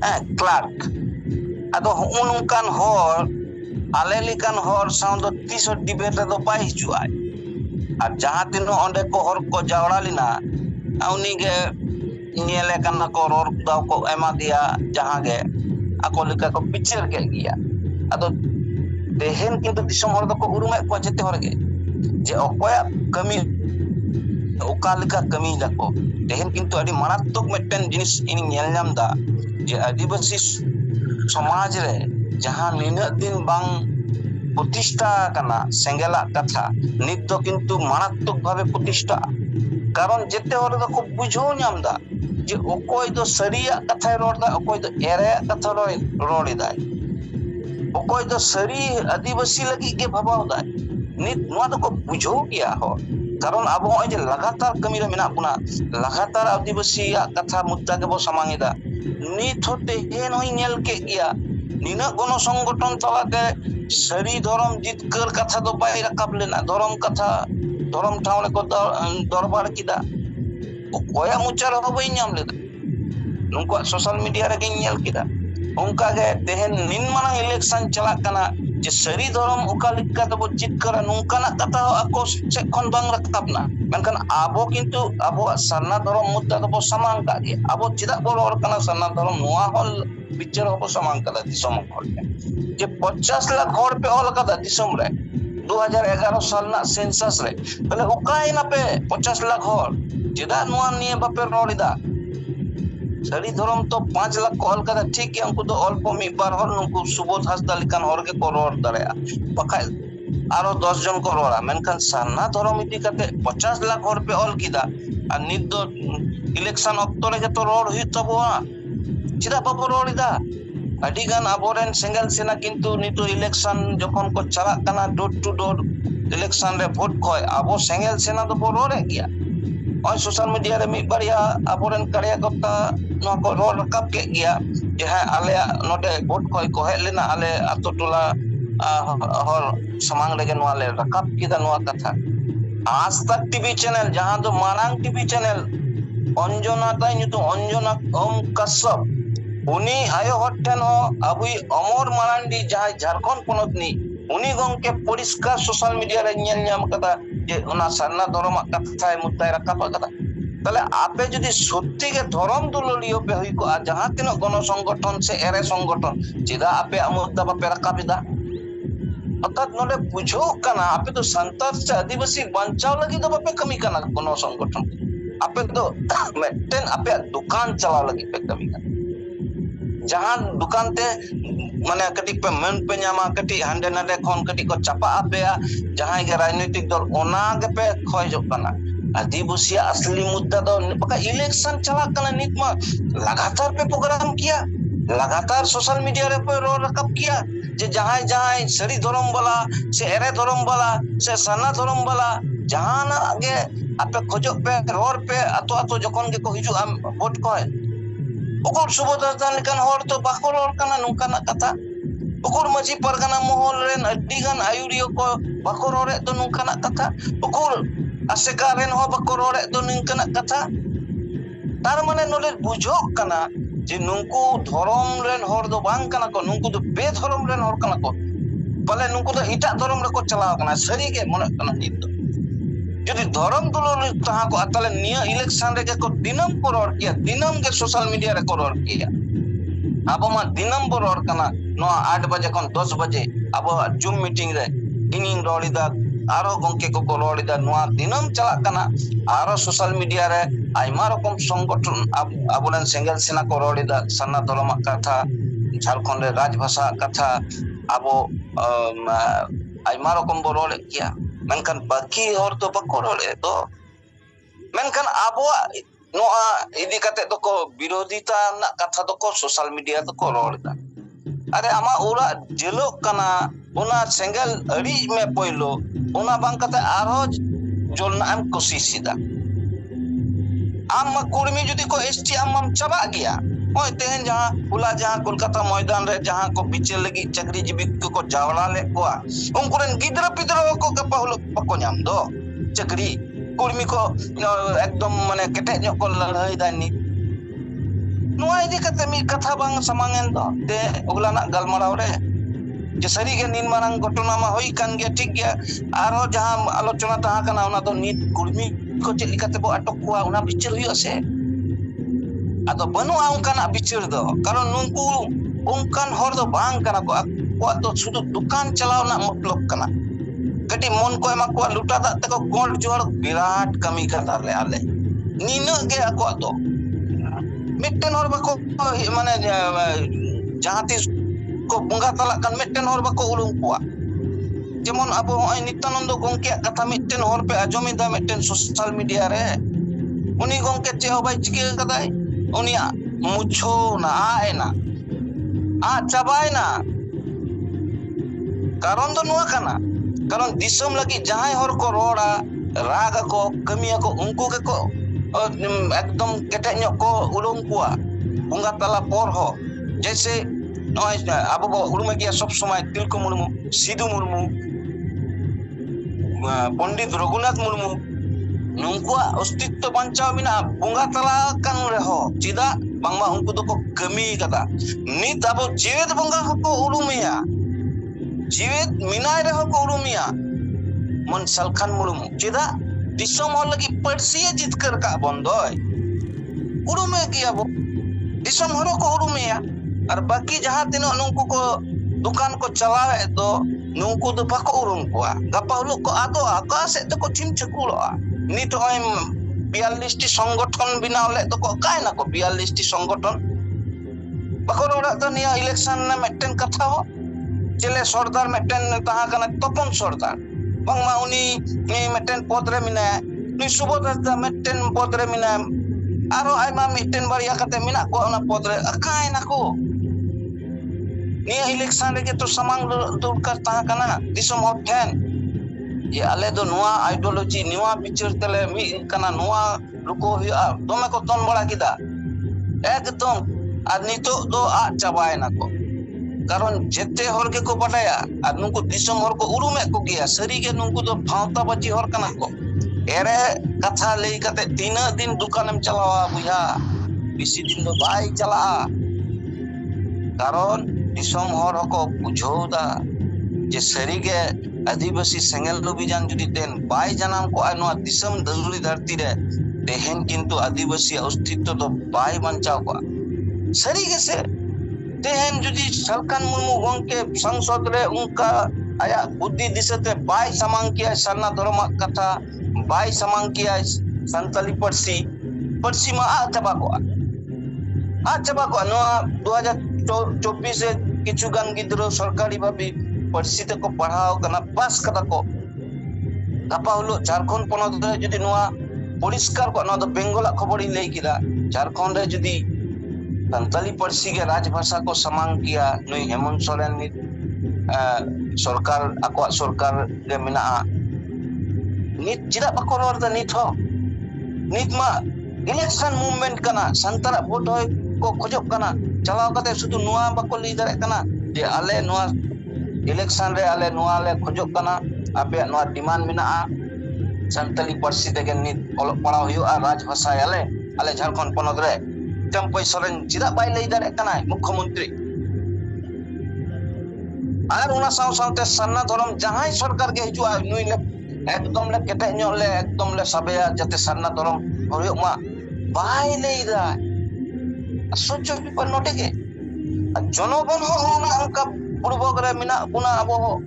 ᱦᱮᱸ ᱠᱞᱟᱠ ᱟᱫᱚ ᱦᱚᱜᱼᱚ ᱱᱚᱝᱠᱟᱱ ᱦᱚᱲ ᱟᱞᱮ ᱞᱮᱠᱟᱱ ᱦᱚᱲ ᱥᱟᱶ ᱫᱚ ᱛᱤᱥ ᱦᱚᱸ ᱰᱤᱵᱮᱴ ᱨᱮᱫᱚ ᱵᱟᱭ ᱦᱤᱡᱩᱜ ᱟᱭ ᱟᱨ ᱡᱟᱦᱟᱸ ᱛᱤᱱᱟᱹᱜ ᱚᱸᱰᱮ ᱠᱚ ᱦᱚᱲ ᱠᱚ ᱡᱟᱣᱨᱟ ᱞᱮᱱᱟ ᱩᱱᱤ ᱜᱮ ᱧᱮᱞᱮ ᱠᱟᱱᱟ ᱠᱚ ᱨᱚᱲ ᱫᱟᱣ ᱠᱚ ᱮᱢᱟ ᱫᱮᱭᱟ ᱡᱟᱦᱟᱸ ᱜᱮ ᱟᱠᱚ ᱞᱮᱠᱟ ᱠᱚ ᱵᱤᱪᱟᱹᱨ ᱠᱮᱫ ᱜᱮᱭᱟ ᱟᱫᱚ ᱛᱮᱦᱮᱧ ᱠᱤᱱᱛᱩ ᱫᱤᱥᱚᱢ ᱦᱚᱲ ᱫᱚᱠᱚ ᱩᱨᱩᱢᱮᱫ ᱠᱚᱣᱟ ᱡᱮᱛᱮ ᱦᱚᱲ ᱜᱮ ᱡᱮ ᱚᱠᱚᱭᱟᱜ ᱠᱟᱹᱢᱤ ᱚᱠᱟ ᱞᱮᱠᱟ ᱠᱟᱹᱢᱤᱭ ᱫᱟᱠᱚ ᱛᱮᱦᱮᱧ ᱠᱤᱱᱛᱩ ᱟᱹᱰᱤ ᱢᱟᱨᱟᱛᱛᱚᱠ ᱢᱤᱫᱴᱮᱱ ᱡᱤᱱᱤᱥ ᱤᱧ ᱧᱮᱞ ᱧᱟᱢ ᱮᱫᱟ ᱡᱮ ᱟᱹᱫᱤᱵᱟᱹᱥᱤ ᱥᱚᱢᱟᱡᱽ ᱨᱮ ᱡᱟᱦᱟᱸ ᱱᱤᱱᱟᱹᱜ ᱫᱤᱱ ᱵᱟᱝ ᱯᱨᱚᱛᱤᱥᱴᱷᱟ ᱟᱠᱟᱱᱟ ᱥᱮᱸᱜᱮᱞᱟᱜ ᱠᱟᱛᱷᱟ ᱱᱤᱛ ᱫᱚ ᱠᱤᱱᱛᱩ ᱢᱟᱨᱟᱛᱛᱚᱠ ᱵᱷᱟᱵᱮ ᱯᱨᱚᱛᱤᱥᱴᱷᱟᱜᱼᱟ ᱠᱟᱨᱚᱱ ᱡᱮᱛᱮ ᱦᱚᱲ ᱫᱚᱠᱚ ᱵᱩᱡᱷᱟᱹᱣ ᱧᱟᱢ ᱮᱫᱟ ᱡᱮ ᱚᱠᱚᱭ ᱫᱚ ᱥᱟᱹᱨᱤᱭᱟᱜ ᱠᱟᱛᱷᱟᱭ ᱨᱚᱲ ᱮᱫᱟ ᱚᱠᱚᱭ ᱫᱚ ᱮᱲᱮᱭᱟᱜ ᱠᱟᱛᱷᱟ ᱨᱚᱲ ᱮᱫᱟᱭ ᱚᱠᱚᱭ ᱫᱚ ᱥᱟᱹᱨᱤ ᱟᱹᱫᱤᱵᱟᱹᱥᱤ ᱞᱟᱹᱜᱤᱫ ᱜᱮ ᱵᱷᱟᱵᱟᱣ ᱮᱫᱟᱭ ᱱᱤᱛ ᱱᱚᱣᱟ ᱫᱚᱠᱚ ᱵᱩᱡᱷᱟᱹᱣ ᱜᱮᱭᱟ ᱦᱚᱲ ᱠᱟᱨᱚᱱ ᱟᱵᱚ ᱱᱚᱜᱼᱚᱭ ᱡᱮ ᱞᱟᱜᱟᱛᱟᱨ ᱠᱟᱹᱢᱤᱨᱮ ᱢᱮᱱᱟᱜ ᱵᱚᱱᱟ ᱞᱟᱜᱟᱛᱟᱨ ᱟᱹᱫᱤᱵᱟᱹᱥᱤᱭᱟᱜ ᱠᱟᱛᱷᱟ ᱢᱩᱫᱽᱫᱟ ᱜᱮᱵᱚ ᱥᱟᱢᱟᱝ ᱮᱫᱟ ᱱᱤᱛ ᱦᱚᱸ ᱛᱮᱦᱮᱧ ᱦᱚᱧ ᱧᱮᱞ ᱠᱮᱫ ᱜᱮᱭᱟ ᱱᱤᱱᱟᱹᱜ ᱜᱚᱱᱚ ᱥᱚᱝᱜᱚᱴᱷᱚᱱ ᱛᱟᱞᱟᱛᱮ ᱥᱟᱹᱨᱤ ᱫᱷᱚᱨᱚᱢ ᱡᱤᱛᱠᱟᱹᱨ ᱠᱟᱹᱨ ᱠᱟᱛᱷᱟ ᱫᱚ ᱵᱟᱭ ᱨᱟᱠᱟᱵ ᱞᱮᱱᱟ ᱫᱷᱚᱨᱚᱢ ᱠᱟᱛᱷᱟ ᱫᱷᱚᱨᱚᱢ ᱴᱷᱟᱶ ᱨᱮᱠᱚ ᱫᱚᱨᱵᱟᱨ ᱠᱮᱫᱟ ᱚᱠᱚᱭᱟᱜ ᱢᱚᱪᱟ ᱨᱮᱦᱚᱸ ᱵᱟᱹᱧ ᱧᱟᱢ ᱞᱮᱫᱟ ᱱᱩᱠᱩᱣᱟᱜ ᱥᱳᱥᱟᱞ ᱢᱤᱰᱤᱭᱟ ᱨᱮᱜᱮᱧ ᱧᱮᱞ ᱠᱮᱫᱟ ᱚᱱᱠᱟᱜᱮ ᱛᱮᱦᱮᱧ ᱱᱤᱱ ᱢᱟᱨᱟᱝ ᱤᱞᱮᱠᱥᱚᱱ ᱪᱟᱞᱟᱜ ᱠᱟᱱᱟ ᱡᱮ ᱥᱟᱹᱨᱤ ᱫᱷᱚᱨᱚᱢ ᱚᱠᱟ ᱞᱮᱠᱟ ᱛᱮᱵᱚ ᱪᱤᱛᱠᱟᱹᱨᱟ ᱱᱚᱝᱠᱟᱱᱟᱜ ᱠᱟᱛᱷᱟ ᱦᱚᱸ ᱟᱠᱚ ᱥᱮᱫ ᱠᱷᱚᱱ ᱵᱟᱝ ᱨᱟᱠᱟᱵ ᱮᱱᱟ ᱢᱮᱱᱠᱷᱟᱱ ᱟᱵᱚ ᱠᱤᱱᱛᱩ ᱟᱵᱚᱣᱟᱜ ᱥᱟᱨᱱᱟ ᱫᱷᱚᱨᱚᱢ ᱢᱩᱫᱽᱫᱟ ᱫᱚᱵᱚ ᱥᱟᱢᱟᱝ ᱠᱟᱜ ᱜᱮᱭᱟ ᱟᱵᱚ ᱪᱮᱫᱟᱜ ᱵᱚ ᱨᱚᱲ ᱠᱟᱱᱟ ᱥᱟᱨᱱᱟ ᱫᱷᱚᱨᱚᱢ ᱱᱚᱣᱟ ᱦᱚᱸ ᱵᱤᱪᱟᱹᱨ ᱦᱚᱸᱠᱚ ᱥᱟᱢᱟᱝ ᱠᱟᱫᱟ ᱫᱤᱥᱚᱢ ᱦᱚᱲ ᱴᱷᱮᱱ ᱡᱮ ᱯᱚᱧᱪᱟᱥ ᱞᱟᱠᱷ ᱦᱚᱲ ᱯᱮ ᱚᱞ ᱠᱟᱫᱟ ᱫᱤᱥᱚᱢ ᱨᱮ ᱫᱩ ᱦᱟᱡᱟᱨ ᱮᱜᱟᱨᱚ ᱥᱟᱞ ᱨᱮᱱᱟᱜ ᱥᱮᱱᱥᱟᱥ ᱨᱮ ᱛᱟᱦᱞᱮ ᱚᱠᱟᱭᱮᱱᱟᱯᱮ ᱯᱚᱧᱪᱟᱥ ᱞᱟᱠᱷ ᱦᱚᱲ ᱪᱮᱫᱟᱜ ᱱᱚᱣᱟ ᱱᱤᱭᱟᱹ ᱵᱟᱯᱮ ᱨᱚᱲ ᱮᱫᱟ ᱥᱟᱹᱨᱤ ᱫᱷᱚᱨᱚᱢ ᱛᱚ ᱯᱟᱸᱪ ᱞᱟᱠᱷ ᱠᱚ ᱚᱞ ᱠᱟᱫᱟ ᱴᱷᱤᱠ ᱜᱮᱭᱟ ᱩᱱᱠᱩ ᱫᱚ ᱚᱞᱯᱚ ᱢᱤᱫ ᱵᱟᱨ ᱦᱚᱲ ᱱᱩᱠᱩ ᱥᱩᱵᱳᱫᱷ ᱦᱟᱸᱥᱫᱟ ᱞᱮᱠᱟᱱ ᱦᱚᱲ ᱜᱮᱠᱚ ᱨᱚᱲ ᱫᱟᱲᱮᱭᱟᱜᱼᱟ ᱵᱟᱠᱷᱟᱡ ᱟᱨᱚ ᱫᱚᱥ ᱡᱚᱱ ᱠᱚ ᱨᱚᱲᱟ ᱢᱮᱱᱠᱷᱟᱱ ᱥᱟᱨᱱᱟ ᱫᱷᱚᱨᱚᱢ ᱤᱫᱤ ᱠᱟᱛᱮ ᱯᱚᱧᱪᱟᱥ ᱞᱟᱠᱷ ᱦᱚᱲ ᱯᱮ ᱚᱞ ᱠᱮᱫᱟ ᱟᱨ ᱱᱤᱛ ᱫᱚ ᱤᱞᱮᱠᱥᱚᱱ ᱚᱠᱛᱚ ᱨᱮᱜᱮ ᱛᱚ ᱨᱚᱲ ᱦᱩᱭᱩᱜ ᱛᱟᱵᱚᱣᱟ ᱪᱮᱫᱟᱜ ᱵᱟᱵᱚ ᱨᱚᱲ ᱮᱫᱟ ᱟᱹᱰᱤ ᱜᱟᱱ ᱟᱵᱚᱨᱮᱱ ᱥᱮᱸᱜᱮᱞ ᱥᱮᱱᱟ ᱠᱤᱱᱛᱩ ᱱᱤᱛᱚᱜ ᱤᱞᱮᱠᱥᱚᱱ ᱡᱚᱠᱷᱚᱱ ᱠᱚ ᱪᱟᱞᱟᱜ ᱠᱟᱱᱟ ᱰᱳᱨ ᱴᱩ ᱰᱳᱨ ᱤᱞᱮᱠᱥᱚᱱ ᱨᱮ ᱵᱷᱳᱴ ᱠᱷᱚᱡ ᱟᱵᱚ ᱥᱮᱸᱜᱮᱞ ᱥᱮᱱᱟ ᱫᱚᱵᱚ ᱨᱚᱲ ᱮᱫ ᱜᱮᱭᱟ ᱱᱚᱜᱼᱚᱭ ᱥᱳᱥᱟᱞ ᱢᱤᱰᱤᱭᱟ ᱨᱮ ᱢᱤᱫ ᱵᱟᱨᱭᱟ ᱟᱵᱚᱨᱮᱱ ᱠᱟᱨᱭᱟᱠᱚᱨᱛᱟ ᱱᱚᱣᱟ ᱠᱚ ᱨᱚᱲ ᱨᱟᱠᱟᱵ ᱠᱮᱫ ᱜᱮᱭᱟ ᱡᱮ ᱦᱮᱸ ᱟᱞᱮᱭᱟᱜ ᱱᱚᱰᱮ ᱵᱷᱳᱴ ᱠᱷᱚᱡ ᱠᱚ ᱦᱮᱡ ᱞᱮᱱᱟ ᱟᱞᱮ ᱟᱛᱳ ᱴᱚᱞᱟ ᱦᱚᱲ ᱥᱟᱢᱟᱝ ᱨᱮᱜᱮ ᱱᱚᱣᱟ ᱞᱮ ᱨᱟᱠᱟᱵ ᱠᱮᱫᱟ ᱱᱚᱣᱟ ᱠᱟᱛᱷᱟ ᱟᱡᱽᱛᱟᱠ ᱴᱤᱵᱷᱤ ᱪᱮᱱᱮᱞ ᱡᱟᱦᱟᱸ ᱫᱚ ᱢᱟᱨᱟᱝ ᱴᱤᱵᱷᱤ ᱪᱮᱱᱮᱞ ᱚᱱᱡᱚᱱᱟ ᱛᱟᱭ ᱧᱩᱛᱩᱢ ᱚᱱᱡᱚᱱᱟ ᱳᱢ ᱠᱟᱥᱥᱚᱯ ᱩᱱᱤ ᱟᱭᱳ ᱦᱚᱲ ᱴᱷᱮᱱ ᱦᱚᱸ ᱟᱵᱚᱭᱤᱡ ᱚᱢᱚᱨ ᱢᱟᱨᱟᱱᱰᱤ ᱡᱟᱦᱟᱸᱭ ᱡᱷᱟᱲᱠᱷᱚᱸᱰ ᱯᱚᱱᱚᱛ ᱨᱤᱱᱤᱡ ᱩᱱᱤ ᱜᱚᱝᱠᱮ ᱯᱚᱨᱤᱥᱠᱟᱨ ᱥᱳᱥᱟᱞ ᱢᱤᱰᱤᱭᱟ ᱨᱮ ᱧᱮᱞ ᱧᱟᱢ ᱟᱠᱟᱫᱟ ᱡᱮ ᱚᱱᱟ ᱥᱟᱨᱱᱟ ᱫᱷᱚᱨᱚᱢᱟᱜ ᱠᱟᱛᱷᱟᱭ ᱢᱩᱫᱽᱫᱟᱭ ᱨᱟᱠᱟᱵ ᱟᱠᱟᱫᱟ ᱛᱟᱦᱞᱮ ᱟᱯᱮ ᱡᱩᱫᱤ ᱥᱚᱛᱛᱤ ᱜᱮ ᱫᱷᱚᱨᱚᱢ ᱫᱩᱞᱟᱹᱲᱤᱭᱟᱹ ᱯᱮ ᱦᱩᱭ ᱠᱚᱜᱼᱟ ᱡᱟᱦᱟᱸ ᱛᱤᱱᱟᱹᱜ ᱜᱚᱱᱚ ᱥᱚᱝᱜᱚᱴᱷᱚᱱ ᱥᱮ ᱮᱲᱮ ᱥᱚᱝᱜᱚᱴᱷᱚᱱ ᱪᱮᱫᱟᱜ ᱟᱯᱮᱭᱟᱜ ᱢᱩᱫᱽᱫᱟ ᱵᱟᱯᱮ ᱨᱟᱠᱟᱵ ᱮᱫᱟ ᱚᱨᱛᱷᱟᱛ ᱱᱚᱰᱮ ᱵᱩᱡᱷᱟᱹᱜ ᱠᱟᱱᱟ ᱟᱯᱮ ᱫᱚ ᱥᱟᱱᱛᱟᱲ ᱥᱮ ᱟᱹᱫᱤᱵᱟᱹᱥᱤ ᱵᱟᱧᱪᱟᱣ ᱞᱟᱹᱜᱤᱫ ᱫᱚ ᱵᱟᱯᱮ ᱠᱟᱹᱢᱤ ᱠᱟᱱᱟ ᱠᱳᱱᱳ ᱥᱚᱝᱜᱚᱴᱷᱚᱱ ᱟᱯᱮ ᱫᱚ ᱢᱤᱫᱴᱮᱱ ᱟᱯᱮᱭᱟᱜ ᱫᱚᱠᱟᱱ ᱪᱟᱞᱟᱣ ᱞᱟᱹᱜᱤᱫ ᱯᱮ ᱠᱟᱹᱢᱤ ᱠᱟᱱᱟ ᱡᱟᱦᱟᱸ ᱫᱚᱠᱟᱱ ᱛᱮ ᱢᱟᱱᱮ ᱠᱟᱹᱴᱤᱡ ᱯᱮ ᱢᱟᱹᱱ ᱯᱮ ᱧᱟᱢᱟ ᱠᱟᱹᱴᱤᱡ ᱦᱟᱸᱰᱮ ᱱᱟᱰᱮ ᱠᱷᱚᱱ ᱠᱟᱹᱴᱤᱡ ᱠᱚ ᱪᱟᱯᱟᱜ ᱟᱯᱮᱭᱟ ᱡᱟᱦᱟᱸᱭ ᱜᱮ ᱨᱟᱡᱽᱱᱤᱛᱤᱠ ᱫᱚᱞ ᱚᱱᱟ ᱜᱮᱯᱮ ᱠᱷᱚᱡᱚᱜ ᱠᱟᱱᱟ ᱟᱹᱫᱤᱵᱟᱹᱥᱤᱭᱟᱜ ᱟᱥᱞᱤ ᱢᱩᱫᱽᱫᱟ ᱫᱚ ᱵᱟᱠᱷᱟᱡ ᱤᱞᱮᱠᱥᱚᱱ ᱪᱟᱞᱟᱜ ᱠᱟᱱᱟ ᱱᱤᱛ ᱢᱟ ᱞᱟᱜᱟᱛᱟᱨ ᱯᱮ ᱯᱨᱳᱜᱨᱟᱢ ᱠᱮᱭᱟ ᱞᱟᱜᱟᱛᱟᱨ ᱥᱳᱥᱟᱞ ᱢᱤᱰᱤᱭᱟ ᱨᱮᱯᱮ ᱨᱚᱲ ᱨᱟᱠᱟᱵ ᱠᱮᱭᱟ ᱡᱮ ᱡᱟᱦᱟᱸᱭ ᱡᱟᱦᱟᱸᱭ ᱥᱟᱹᱨᱤ ᱫᱷᱚᱨᱚᱢ ᱵᱟᱞᱟ ᱥᱮ ᱮᱲᱮ ᱫᱷᱚᱨᱚᱢ ᱵᱟᱞᱟ ᱥᱮ ᱥᱟᱨᱱᱟ ᱫᱷᱚᱨᱚᱢ ᱵᱟᱞᱟ ᱡᱟᱦᱟᱱᱟᱜ ᱜᱮ ᱟᱯᱮ ᱠᱷᱚᱡᱚᱜ ᱯᱮ ᱨᱚᱲ ᱯᱮ ᱟᱹᱛᱩ ᱟᱹᱛᱩ ᱡᱚᱠᱷᱚᱱ ᱜᱮᱠᱚ ᱦᱤᱡᱩᱜᱼᱟ ᱵᱷᱳᱴ ᱠᱷᱚᱡ ᱩᱠᱩᱨ ᱥᱩᱵᱷᱚᱫᱨᱟ ᱦᱟᱸᱥᱫᱟ ᱞᱮᱠᱟᱱ ᱦᱚᱲ ᱫᱚ ᱵᱟᱠᱚ ᱨᱚᱲ ᱠᱟᱱᱟ ᱱᱚᱝᱠᱟᱱᱟᱜ ᱠᱟᱛᱷᱟ ᱩᱠᱩᱨ ᱢᱟᱺᱡᱷᱤ ᱯᱟᱨᱜᱟᱱᱟ ᱢᱚᱦᱚᱞ ᱨᱮᱱ ᱟᱹᱰᱤ ᱜᱟᱱ ᱟᱹᱭᱩᱨᱤᱭᱟᱹ ᱠᱚ ᱵᱟᱠᱚ ᱨᱚᱲᱮᱫ ᱫᱚ ᱱᱚᱝᱠᱟᱱᱟᱜ ᱠᱟᱛᱷᱟ ᱩᱠᱩᱨ ᱟᱥᱮᱠᱟ ᱨᱮᱱ ᱦᱚᱸ ᱵᱟᱠᱚ ᱨᱚᱲᱮᱫ ᱫᱚ ᱱᱤᱝᱠᱟᱹᱱᱟᱜ ᱠᱟᱛᱷᱟ ᱛᱟᱨᱢᱟᱱᱮ ᱱᱚᱰᱮ ᱵᱩᱡᱷᱟᱹᱜ ᱠᱟᱱᱟ ᱡᱮ ᱱᱩᱠᱩ ᱫᱷᱚᱨᱚᱢ ᱨᱮᱱ ᱦᱚᱲ ᱫᱚ ᱵᱟᱝ ᱠᱟᱱᱟ ᱠᱚ ᱱᱩᱠᱩ ᱫᱚ ᱵᱮᱫᱷᱚᱨᱚᱢ ᱨᱮᱱ ᱦᱚᱲ ᱠᱟᱱᱟ ᱠᱚ ᱯᱟᱞᱮ ᱱᱩᱠᱩ ᱫᱚ ᱮᱴᱟᱜ ᱫᱷᱚᱨᱚᱢ ᱨᱮᱠᱚ ᱪᱟᱞᱟᱣ ᱠᱟᱱᱟ ᱥᱟᱹᱨᱤ ᱜᱮ ᱢᱚᱱᱮᱜ ᱠᱟᱱᱟ ᱱᱤᱛ ᱫᱚ ᱡᱩᱫᱤ ᱫᱷᱚᱨᱚᱢ ᱫᱩᱞᱟᱹᱲ ᱛᱟᱦᱮᱸ ᱠᱚᱜᱼᱟ ᱛᱟᱦᱚᱞᱮ ᱱᱤᱭᱟᱹ ᱤᱞᱮᱠᱥᱚᱱ ᱨᱮᱜᱮ ᱠᱚ ᱫᱤᱱᱟᱹᱢ ᱠᱚ ᱨᱚᱲ ᱠᱮᱭᱟ ᱫᱤᱱᱟᱹᱢ ᱜᱮ ᱥᱳᱥᱟᱞ ᱢᱤᱰᱤᱭᱟ ᱨᱮᱠᱚ ᱨᱚᱲ ᱠᱮᱭᱟ ᱟᱵᱚ ᱢᱟ ᱫᱤᱱᱟᱹᱢ ᱵᱚ ᱨᱚᱲ ᱠᱟᱱᱟ ᱱᱚᱣᱟ ᱟᱴ ᱵᱟᱡᱮ ᱠᱷᱚᱱ ᱫᱚᱥ ᱵᱟᱡᱮ ᱟᱵᱚᱣᱟᱜ ᱡᱩᱢ ᱢᱤᱴᱤᱝ ᱨᱮ ᱤᱧᱤᱧ ᱨᱚᱲ ᱮᱫᱟ ᱟᱨᱚ ᱜᱚᱝᱠᱮ ᱠᱚᱠᱚ ᱨᱚᱲ ᱮᱫᱟ ᱱᱚᱣᱟ ᱫᱤᱱᱟᱹᱢ ᱪᱟᱞᱟᱜ ᱠᱟᱱᱟ ᱟᱨᱚ ᱥᱳᱥᱟᱞ ᱢᱤᱰᱤᱭᱟ ᱨᱮ ᱟᱭᱢᱟ ᱨᱚᱠᱚᱢ ᱥᱚᱝᱜᱚᱴᱷᱚᱱ ᱟᱵᱚᱨᱮᱱ ᱥᱮᱸᱜᱮᱞ ᱥᱮᱱᱟ ᱠᱚ ᱨᱚᱲ ᱮᱫᱟ ᱥᱟᱨᱱᱟ ᱫᱷᱚᱨᱚᱢ ᱟᱜ ᱠᱟᱛᱷᱟ ᱡᱷᱟᱲᱠᱷᱚᱸᱰ ᱨᱮ ᱨᱟᱡᱽ ᱵᱷᱟᱥᱟ ᱟᱜ ᱠᱟᱛᱷᱟ ᱟᱵᱚ ᱟᱭᱢᱟ ᱨᱚᱠᱚᱢ ᱵᱚᱱ ᱨᱚᱲᱮᱫ ᱜᱮᱭᱟ ᱢᱮᱱᱠᱷᱟᱱ ᱵᱟᱠᱤ ᱦᱚᱲ ᱫᱚ ᱵᱟᱠᱚ ᱨᱚᱲᱮᱫ ᱫᱚ ᱢᱮᱱᱠᱷᱟᱱ ᱟᱵᱚᱣᱟᱜ ᱱᱚᱣᱟ ᱤᱫᱤ ᱠᱟᱛᱮ ᱫᱚᱠᱚ ᱵᱤᱨᱳᱫᱷᱤᱛᱟ ᱨᱮᱱᱟᱜ ᱠᱟᱛᱷᱟ ᱫᱚᱠᱚ ᱥᱳᱥᱟᱞ ᱢᱤᱰᱤᱭᱟ ᱫᱚᱠᱚ ᱨᱚᱲ ᱮᱫᱟ ᱟᱨᱮ ᱟᱢᱟᱜ ᱚᱲᱟᱜ ᱡᱮᱞᱚᱜ ᱠᱟᱱᱟ ᱚᱱᱟ ᱥᱮᱸᱜᱮᱞ ᱟᱹᱲᱤᱡ ᱢᱮ ᱯᱳᱭᱞᱳ ᱚᱱᱟ ᱵᱟᱝ ᱠᱟᱛᱮ ᱟᱨᱦᱚᱸ ᱡᱳᱞ ᱨᱮᱱᱟᱜ ᱮᱢ ᱠᱳᱥᱤᱥ ᱮᱫᱟ ᱟᱢ ᱢᱟ ᱠᱩᱲᱢᱤ ᱡᱩᱫᱤ ᱠᱚ ᱮᱥᱴᱤ ᱟᱢ ᱢᱟᱢ ᱪᱟᱵᱟᱜ ᱜᱮᱭᱟ ᱱᱚᱜᱼᱚᱭ ᱛᱮᱦᱮᱧ ᱡᱟᱦᱟᱸ ᱦᱚᱞᱟ ᱡᱟᱦᱟᱸ ᱠᱳᱞᱠᱟᱛᱟ ᱢᱚᱭᱫᱟᱱ ᱨᱮ ᱡᱟᱦᱟᱸ ᱠᱚ ᱵᱤᱪᱟᱹᱨ ᱞᱟᱹᱜᱤᱫ ᱪᱟᱹᱠᱨᱤ ᱡᱤᱵᱤ ᱠᱚᱠᱚ ᱡᱟᱣᱨᱟ ᱞᱮᱫ ᱠᱚᱣᱟ ᱩᱱᱠᱩ ᱨᱮᱱ ᱜᱤᱫᱽᱨᱟᱹ ᱯᱤᱫᱽᱨᱟᱹ ᱦᱚᱸᱠᱚ ᱜᱟᱯᱟ ᱦᱤᱞᱳᱜ ᱵᱟᱠᱚ ᱧᱟᱢ ᱫᱚ ᱪᱟᱹᱠᱨᱤ ᱠᱚᱨᱢᱤ ᱠᱚ ᱮᱠᱫᱚᱢ ᱢᱟᱱᱮ ᱠᱮᱴᱮᱡ ᱧᱚᱜ ᱠᱚ ᱞᱟᱹᱲᱦᱟᱹᱭ ᱫᱟ ᱱᱤᱛ ᱱᱚᱣᱟ ᱤᱫᱤ ᱠᱟᱛᱮ ᱢᱤᱫ ᱠᱟᱛᱷᱟ ᱵᱟᱝ ᱥᱟᱢᱟᱝ ᱮᱱ ᱫᱚ ᱫᱮ ᱦᱚᱞᱟᱱᱟᱜ ᱜᱟᱞᱢᱟᱨᱟᱣ ᱨᱮ ᱡᱮ ᱥᱟᱹᱨᱤᱜᱮ ᱱᱤᱱ ᱢᱟᱨᱟᱝ ᱜᱷᱚᱴᱚᱱᱟ ᱢᱟ ᱦᱩᱭ ᱠᱟᱱ ᱜᱮᱭᱟ ᱴᱷᱤᱠ ᱜᱮᱭᱟ ᱟᱨᱦᱚᱸ ᱡᱟᱦᱟᱸ ᱟᱞᱳᱪᱚᱱᱟ ᱛᱟᱦᱮᱸ ᱠᱟᱱᱟ ᱚᱱᱟ ᱫᱚ ᱱᱤᱛ ᱠᱚᱨᱢᱤ ᱠᱚ ᱪᱮᱫ ᱞᱮᱠᱟ ᱛᱮᱵᱚ ᱟᱴᱚᱠ ᱠᱚᱣᱟ ᱚᱱᱟ ᱵᱤᱪᱟᱹᱨ ᱦᱩᱭᱩᱜ ᱟᱥᱮ ᱟᱫᱚ ᱵᱟᱹᱱᱩᱜᱼᱟ ᱚᱱᱠᱟᱱᱟᱜ ᱵᱤᱪᱟᱹᱨ ᱫᱚ ᱠᱟᱨᱚᱱ ᱱᱩᱠᱩ ᱚᱱᱠᱟᱱ ᱦᱚᱲ ᱫᱚ ᱵᱟᱝ ᱠᱟᱱᱟ ᱠᱚ ᱟᱠᱚᱣᱟᱜ ᱫᱚ ᱥᱩᱫᱩ ᱫᱚᱠᱟᱱ ᱪᱟᱞᱟᱣ ᱨᱮᱱᱟᱜ ᱢᱚᱛᱞᱚᱵ ᱠᱟᱱᱟ ᱠᱟᱹᱴᱤᱡ ᱢᱚᱱ ᱠᱚ ᱮᱢᱟ ᱠᱚᱣᱟ ᱞᱚᱴᱟ ᱫᱟᱜ ᱛᱮᱠᱚ ᱜᱚᱰ ᱡᱚᱦᱟᱨ ᱵᱤᱨᱟᱴ ᱠᱟᱹᱢᱤ ᱠᱟᱱ ᱛᱟᱞᱮᱭᱟ ᱟᱞᱮ ᱱᱤᱱᱟᱹᱜ ᱜᱮ ᱟᱠᱚᱣᱟᱜ ᱫᱚ ᱢᱤᱫᱴᱮᱱ ᱦᱚᱲ ᱵᱟᱠᱚ ᱢᱟᱱᱮ ᱡᱟᱦᱟᱸ ᱛᱤᱥ ᱠᱚ ᱵᱚᱸᱜᱟ ᱛᱟᱞᱟᱜ ᱠᱟᱱ ᱢᱤᱫᱴᱮᱱ ᱦᱚᱲ ᱵᱟᱠᱚ ᱩᱨᱩᱢ ᱠᱚᱣᱟ ᱡᱮᱢᱚᱱ ᱟᱵᱚ ᱱᱚᱜᱼᱚᱭ ᱱᱤᱛᱭᱟᱱᱚᱱᱫᱚ ᱜᱚᱝᱠᱮᱭᱟᱜ ᱠᱟᱛᱷᱟ ᱢᱤᱫᱴᱮᱱ ᱦᱚᱲ ᱯᱮ ᱟᱸᱡᱚᱢᱮᱫᱟ ᱢᱤᱫᱴᱮᱱ ᱥᱳᱥᱟᱞ ᱢᱤᱰᱤᱭᱟ ᱨᱮ ᱩᱱᱤ ᱜᱚᱝᱠᱮ ᱪᱮᱫ ᱦᱚᱸ ᱵᱟᱭ ᱪᱤᱠᱟᱹ ᱟᱠᱟᱫᱟᱭ ᱩᱱᱤᱭᱟᱜ ᱢᱩᱪᱷᱟᱹᱣ ᱮᱱᱟ ᱟᱜ ᱮᱱᱟ ᱟᱜ ᱪᱟᱵᱟᱭᱮᱱᱟ ᱠᱟᱨᱚᱱ ᱫᱚ ᱱᱚᱣᱟ ᱠᱟᱱᱟ ᱠᱟᱨᱚᱱ ᱫᱤᱥᱚᱢ ᱞᱟᱹᱜᱤᱫ ᱡᱟᱦᱟᱸᱭ ᱦᱚᱲ ᱠᱚ ᱨᱚᱲᱟ ᱨᱟᱜ ᱟᱠᱚ ᱠᱟᱹᱢᱤᱭᱟᱠᱚ ᱩᱱᱠᱩ ᱜᱮᱠᱚ ᱮᱠᱫᱚᱢ ᱠᱮᱴᱮᱡ ᱧᱚᱜ ᱠᱚ ᱩᱨᱩᱢ ᱠᱚᱣᱟ ᱵᱚᱸᱜᱟ ᱛᱟᱞᱟ ᱯᱚᱨ ᱦᱚᱸ ᱡᱮᱭᱥᱮ ᱱᱚᱜᱼᱚᱭ ᱟᱵᱚ ᱵᱚ ᱩᱨᱩᱢᱮ ᱜᱮᱭᱟ ᱥᱚᱵᱽ ᱥᱚᱢᱚᱭ ᱛᱤᱞᱠᱟᱹ ᱢᱩᱨᱢᱩ ᱥᱤᱫᱩ ᱢᱩᱨᱢᱩ ᱯᱚᱱᱰᱤᱛ ᱨᱚᱜᱷᱩᱱᱟᱛᱷ ᱢᱩᱨᱢᱩ ᱱᱩᱠᱩᱣᱟᱜ ᱚᱥᱛᱤᱛᱛᱚ ᱵᱟᱧᱪᱟᱣ ᱢᱮᱱᱟᱜᱼᱟ ᱵᱚᱸᱜᱟ ᱛᱟᱞᱟ ᱟᱠᱟᱱ ᱨᱮᱦᱚᱸ ᱪᱮᱫᱟᱜ ᱵᱟᱝᱢᱟ ᱩᱱᱠᱩ ᱫᱚᱠᱚ ᱠᱟᱹᱢᱤ ᱠᱟᱫᱟ ᱱᱤᱛ ᱟᱵᱚ ᱡᱮᱣᱮᱫ ᱵᱚᱸᱜᱟ ᱦᱚᱸᱠᱚ ᱩᱨᱩᱢᱮᱭᱟ ᱡᱮᱣᱮᱫ ᱢᱮᱱᱟᱭ ᱨᱮᱦᱚᱸ ᱠᱚ ᱩᱨᱩᱢᱮᱭᱟ ᱢᱚᱱ ᱥᱟᱞᱠᱷᱟᱱ ᱢᱩᱨᱢᱩ ᱪᱮᱫᱟᱜ ᱫᱤᱥᱚᱢ ᱦᱚᱲ ᱞᱟᱹᱜᱤᱫ ᱯᱟᱹᱨᱥᱤᱭᱮ ᱡᱤᱛᱠᱟᱹᱨ ᱠᱟᱜ ᱵᱚᱱ ᱫᱚᱭ ᱩᱨᱩᱢᱮ ᱜᱮᱭᱟ ᱵᱚ ᱫᱤᱥᱚᱢ ᱦᱚᱲ ᱦᱚᱸᱠᱚ ᱩᱨᱩᱢᱮᱭᱟ ᱟᱨ ᱵᱟᱹᱠᱤ ᱡᱟᱦᱟᱸ ᱛᱤᱱᱟᱹᱜ ᱱᱩᱠᱩ ᱠᱚ ᱫᱚᱠᱟᱱ ᱠᱚ ᱪᱟᱞᱟᱣᱮᱫ ᱫᱚ ᱱᱩᱠᱩ ᱫᱚ ᱵᱟᱠᱚ ᱩᱨᱩᱢ ᱠᱚᱣᱟ ᱜᱟᱯᱟ ᱦᱤᱞᱳᱜ ᱠᱚ ᱟᱫᱚᱜᱼᱟ ᱚᱠᱟ ᱥᱮᱫ ᱛᱮᱠᱚ ᱪᱷᱤᱢ ᱪᱷᱟᱹᱠᱩᱲᱚᱜᱼᱟ ᱱᱤᱛ ᱦᱚᱸᱜᱼᱚᱭ ᱵᱤᱭᱟᱞᱞᱤᱥᱴᱤ ᱥᱚᱝᱜᱚᱴᱷᱚᱱ ᱵᱮᱱᱟᱣ ᱞᱮᱫ ᱫᱚᱠᱚ ᱚᱠᱟᱭᱱᱟᱠᱚ ᱵᱤᱭᱟᱞᱞᱤᱥᱴᱤ ᱥᱚᱝᱜᱚᱴᱷᱚᱱ ᱵᱟᱠᱚ ᱨᱚᱲᱟᱜ ᱫᱚ ᱱᱤᱭᱟᱹ ᱤᱞᱮᱠᱥᱚᱱ ᱨᱮᱱᱟᱜ ᱢᱤᱫᱴᱮᱱ ᱠᱟᱛᱷᱟ ᱦᱚᱸ ᱪᱮᱞᱮ ᱥᱚᱨᱫᱟᱨ ᱢᱤᱫᱴᱮᱱ ᱛᱟᱦᱮᱸ ᱠᱟᱱᱟ ᱛᱚᱯᱚᱱ ᱥᱚᱨᱫᱟᱨ ᱵᱟᱝᱢᱟ ᱩᱱᱤ ᱢᱤᱫᱴᱮᱱ ᱯᱚᱫ ᱨᱮ ᱢᱮᱱᱟᱭᱟ ᱱᱩᱭ ᱥᱩᱵᱳᱫ ᱦᱟᱸᱥᱫᱟ ᱢᱤᱫᱴᱮᱱ ᱯᱚᱫ ᱨᱮ ᱢᱮᱱᱟᱭᱟ ᱟᱨᱚ ᱟᱭᱢᱟ ᱢᱤᱫᱴᱮᱱ ᱵᱟᱨᱭᱟ ᱠᱟᱛᱮ ᱢᱮᱱᱟᱜ ᱠᱚᱣᱟ ᱚᱱᱟ ᱯᱚᱫ ᱨᱮ ᱟᱠᱟᱭᱱᱟᱠᱚ ᱱᱤᱭᱟᱹ ᱤᱞᱮᱠᱥᱚᱱ ᱨᱮᱜᱮ ᱛᱚ ᱥᱟᱢᱟᱝ ᱫᱚᱨᱠᱟᱨ ᱛᱟᱦᱮᱸ ᱠᱟᱱᱟ ᱫᱤᱥᱚᱢ ᱦᱚᱲ ᱴᱷᱮᱱ ᱡᱮ ᱟᱞᱮ ᱫᱚ ᱱᱚᱣᱟ ᱟᱭᱰᱤᱭᱳᱞᱚᱡᱤ ᱱᱚᱣᱟ ᱵᱤᱪᱟᱹᱨ ᱛᱮᱞᱮ ᱢᱤᱫ ᱠᱟᱱᱟ ᱱᱚᱣᱟ ᱨᱩᱠᱟᱹᱣ ᱦᱩᱭᱩᱜᱼᱟ ᱫᱚᱢᱮ ᱠᱚ ᱫᱚᱱ ᱵᱟᱲᱟ ᱠᱮᱫᱟ ᱮᱠᱫᱚᱢ ᱟᱨ ᱱᱤᱛᱚᱜ ᱫᱚ ᱟᱫ ᱪᱟᱵᱟᱭᱮᱱᱟ ᱠᱚ ᱠᱟᱨᱚᱱ ᱡᱮᱛᱮ ᱦᱚᱲ ᱜᱮᱠᱚ ᱵᱟᱰᱟᱭᱟ ᱟᱨ ᱱᱩᱠᱩ ᱫᱤᱥᱚᱢ ᱦᱚᱲ ᱠᱚ ᱩᱨᱩᱢᱮᱫ ᱠᱚᱜᱮᱭᱟ ᱥᱟᱹᱨᱤᱜᱮ ᱱᱩᱠᱩ ᱫᱚ ᱵᱷᱟᱶᱛᱟ ᱵᱟᱹᱡᱤ ᱦᱚᱲ ᱠᱟᱱᱟ ᱠᱚ ᱮᱲᱮ ᱠᱟᱛᱷᱟ ᱞᱟᱹᱭ ᱠᱟᱛᱮ ᱛᱤᱱᱟᱹᱜ ᱫᱤᱱ ᱫᱚᱠᱟᱱᱮᱢ ᱪᱟᱞᱟᱣᱟ ᱵᱚᱭᱦᱟ ᱵᱮᱥᱤ ᱫᱤᱱ ᱫᱚ ᱵᱟᱭ ᱪᱟᱞᱟᱜᱼᱟ ᱠᱟᱨᱚᱱ ᱫᱤᱥᱚᱢ ᱦᱚᱲ ᱦᱚᱸᱠᱚ ᱵᱩᱡᱷᱟᱹᱣ ᱮᱫᱟ ᱡᱮ ᱥᱟᱹᱨᱤ ᱜᱮ ᱟᱹᱫᱤᱵᱟᱹᱥᱤ ᱥᱮᱸᱜᱮᱞ ᱚᱵᱷᱤᱡᱟᱱ ᱡᱩᱫᱤ ᱛᱮᱱ ᱵᱟᱭ ᱡᱟᱱᱟᱢ ᱠᱚᱜᱼᱟ ᱱᱚᱣᱟ ᱫᱤᱥᱚᱢ ᱫᱷᱩᱲᱤ ᱫᱷᱟᱹᱨᱛᱤ ᱨᱮ ᱛᱮᱦᱮᱧ ᱠᱤᱱᱛᱩ ᱟᱹᱫᱤᱵᱟᱹᱥᱤᱭᱟᱜ ᱚᱥᱛᱤᱛᱛᱚ ᱫᱚ ᱵᱟᱭ ᱵᱟᱧᱪᱟᱣ ᱠᱚᱜᱼᱟ ᱥᱟᱹᱨᱤ ᱜᱮᱥᱮ ᱛᱮᱦᱮᱧ ᱡᱩᱫᱤ ᱥᱟᱞᱠᱷᱟᱱ ᱢᱩᱨᱢᱩ ᱜᱚᱝᱠᱮ ᱥᱚᱝᱥᱚᱫ ᱨᱮ ᱚᱱᱠᱟ ᱟᱭᱟᱜ ᱵᱩᱫᱽᱫᱷᱤ ᱫᱤᱥᱟᱹᱛᱮ ᱵᱟᱭ ᱥᱟᱢᱟᱝ ᱠᱮᱭᱟ ᱥᱟᱨᱱᱟ ᱫᱷᱚᱨᱚᱢᱟᱜ ᱠᱟᱛᱷᱟ ᱵᱟᱭ ᱥᱟᱢᱟᱝ ᱠᱮᱭᱟ ᱥᱟᱱᱛᱟᱞᱤ ᱯᱟᱹᱨᱥᱤ ᱯᱟᱹᱨᱥᱤ ᱢᱟ ᱟᱜ ᱪᱟᱵᱟ ᱠᱚᱜᱼᱟ ᱟᱜ ᱪᱟᱵᱟ ᱠᱚᱜᱼᱟ ᱱᱚᱣᱟ ᱫᱩ ᱦᱟᱡᱟᱨ ᱪᱚᱵᱵᱤᱥ ᱨᱮ ᱠᱤᱪᱷᱩ ᱜᱟᱱ ᱜᱤᱫᱽᱨᱟᱹ ᱥᱚᱨᱠᱟᱨᱤ ᱵᱷᱟᱵᱤ ᱯᱟᱹᱨᱥᱤ ᱛᱮᱠᱚ ᱯᱟᱲᱦᱟᱣ ᱠᱟᱱᱟ ᱯᱟᱥ ᱠᱟᱫᱟ ᱠᱚ ᱜᱟᱯᱟ ᱦᱤᱞᱳᱜ ᱡᱷᱟᱲᱠᱷᱚᱸᱰ ᱯᱚᱱᱚᱛ ᱨᱮ ᱡᱩᱫᱤ ᱱᱚᱣᱟ ᱯᱚᱨᱤᱥᱠᱟᱨ ᱠᱚᱜᱼᱟ ᱱᱚᱣᱟ ᱫᱚ ᱵᱮᱝᱜᱚᱞᱟᱜ ᱠᱷᱚᱵᱚᱨᱤᱧ ᱞᱟᱹᱭ ᱠᱮᱫᱟ ᱡᱷᱟᱲᱠᱷᱚᱸᱰ ᱨᱮ ᱡᱩᱫᱤ ᱥᱟᱱᱛᱟᱞᱤ ᱯᱟᱹᱨᱥᱤ ᱜᱮ ᱨᱟᱡᱽ ᱵᱷᱟᱥᱟ ᱠᱚ ᱥᱟᱢᱟᱝ ᱠᱮᱭᱟ ᱱᱩᱭ ᱦᱮᱢᱚᱱᱛ ᱥᱚᱨᱮᱱ ᱱᱤᱛ ᱥᱚᱨᱠᱟᱨ ᱟᱠᱚᱣᱟᱜ ᱥᱚᱨᱠᱟᱨ ᱨᱮ ᱢᱮᱱᱟᱜᱼᱟ ᱱᱤᱛ ᱪᱮᱫᱟᱜ ᱵᱟᱠᱚ ᱨᱚᱲ ᱮᱫᱟ ᱱᱤᱛ ᱦᱚᱸ ᱱᱤᱛ ᱢᱟ ᱤᱞᱮᱠᱥᱚᱱ ᱢᱩᱵᱷᱢᱮᱱᱴ ᱠᱟᱱᱟ ᱥᱟᱱᱛᱟᱲᱟᱜ ᱵᱷᱳᱴ ᱦᱚᱭ ᱠᱚ ᱠᱷᱚᱡᱚᱜ ᱠᱟᱱᱟ ᱪᱟᱞᱟᱣ ᱠᱟᱛᱮ ᱥᱩᱫᱷᱩ ᱱᱚᱣᱟ ᱵᱟᱠᱚ ᱞᱟᱹᱭ ᱫᱟᱲᱮᱭᱟᱜ ᱠᱟᱱᱟ ᱡᱮ ᱟᱞᱮ ᱱᱚᱣᱟ ᱤᱞᱮᱠᱥᱚᱱ ᱨᱮ ᱟᱞᱮ ᱱᱚᱣᱟ ᱞᱮ ᱠᱷᱚᱡᱚᱜ ᱠᱟᱱᱟ ᱟᱯᱮᱭᱟᱜ ᱱᱚᱣᱟ ᱰᱤᱢᱟᱱᱰ ᱢᱮᱱᱟᱜᱼᱟ ᱥᱟᱱᱛᱟᱲᱤ ᱯᱟᱹᱨᱥᱤ ᱛᱮᱜᱮ ᱱᱤᱛ ᱚᱞᱚᱜ ᱯᱟᱲᱦᱟᱣ ᱦᱩᱭᱩᱜᱼᱟ ᱨᱟᱡᱽ ᱵᱷᱟᱥᱟᱭᱟᱞᱮ ᱟᱞᱮ ᱡᱷᱟᱲᱠᱷᱚᱸᱰ ᱯᱚᱱᱚᱛ ᱨᱮ ᱴᱮᱢᱯᱟᱹᱭ ᱥᱚᱨᱮᱱ ᱪᱮᱫᱟᱜ ᱵᱟᱭ ᱞᱟᱹᱭ ᱫᱟᱲᱮᱭᱟᱜ ᱠᱟᱱᱟ ᱢᱩᱠᱠᱷᱚ ᱢᱚᱱᱛᱨᱤ ᱟᱨ ᱚᱱᱟ ᱥᱟᱶ ᱥᱟᱶᱛᱮ ᱥᱟᱨᱱᱟ ᱫᱷᱚᱨᱚᱢ ᱡᱟᱦᱟᱸᱭ ᱥᱚᱨᱠᱟᱨ ᱜᱮ ᱦᱤᱡᱩᱜᱼᱟ ᱱᱩᱭ ᱞᱮ ᱮᱠᱫᱚᱢ ᱞᱮ ᱠᱮᱴᱮᱡ ᱧᱚᱜ ᱞᱮ ᱮᱠᱫᱚᱢ ᱞᱮ ᱥᱟᱵᱮᱭᱟ ᱡᱟᱛᱮ ᱥᱟᱨᱱᱟ ᱫᱷᱚᱨᱚᱢ ᱦᱩᱭᱩᱜ ᱢᱟ ᱵᱟᱭ ᱞᱟᱹᱭᱫᱟ ᱟᱥᱪᱚᱨᱡᱚ ᱵᱮᱯᱟᱨ ᱱᱚᱰᱮ ᱜᱮ ᱡᱚᱱᱚᱜᱚᱱ ᱦᱚᱸ ᱚᱱᱠᱟ ᱯᱩᱲᱵᱚᱠ ᱨᱮ ᱢᱮᱱᱟᱜ ᱵᱚᱱᱟ ᱟᱵᱚ ᱦᱚᱸ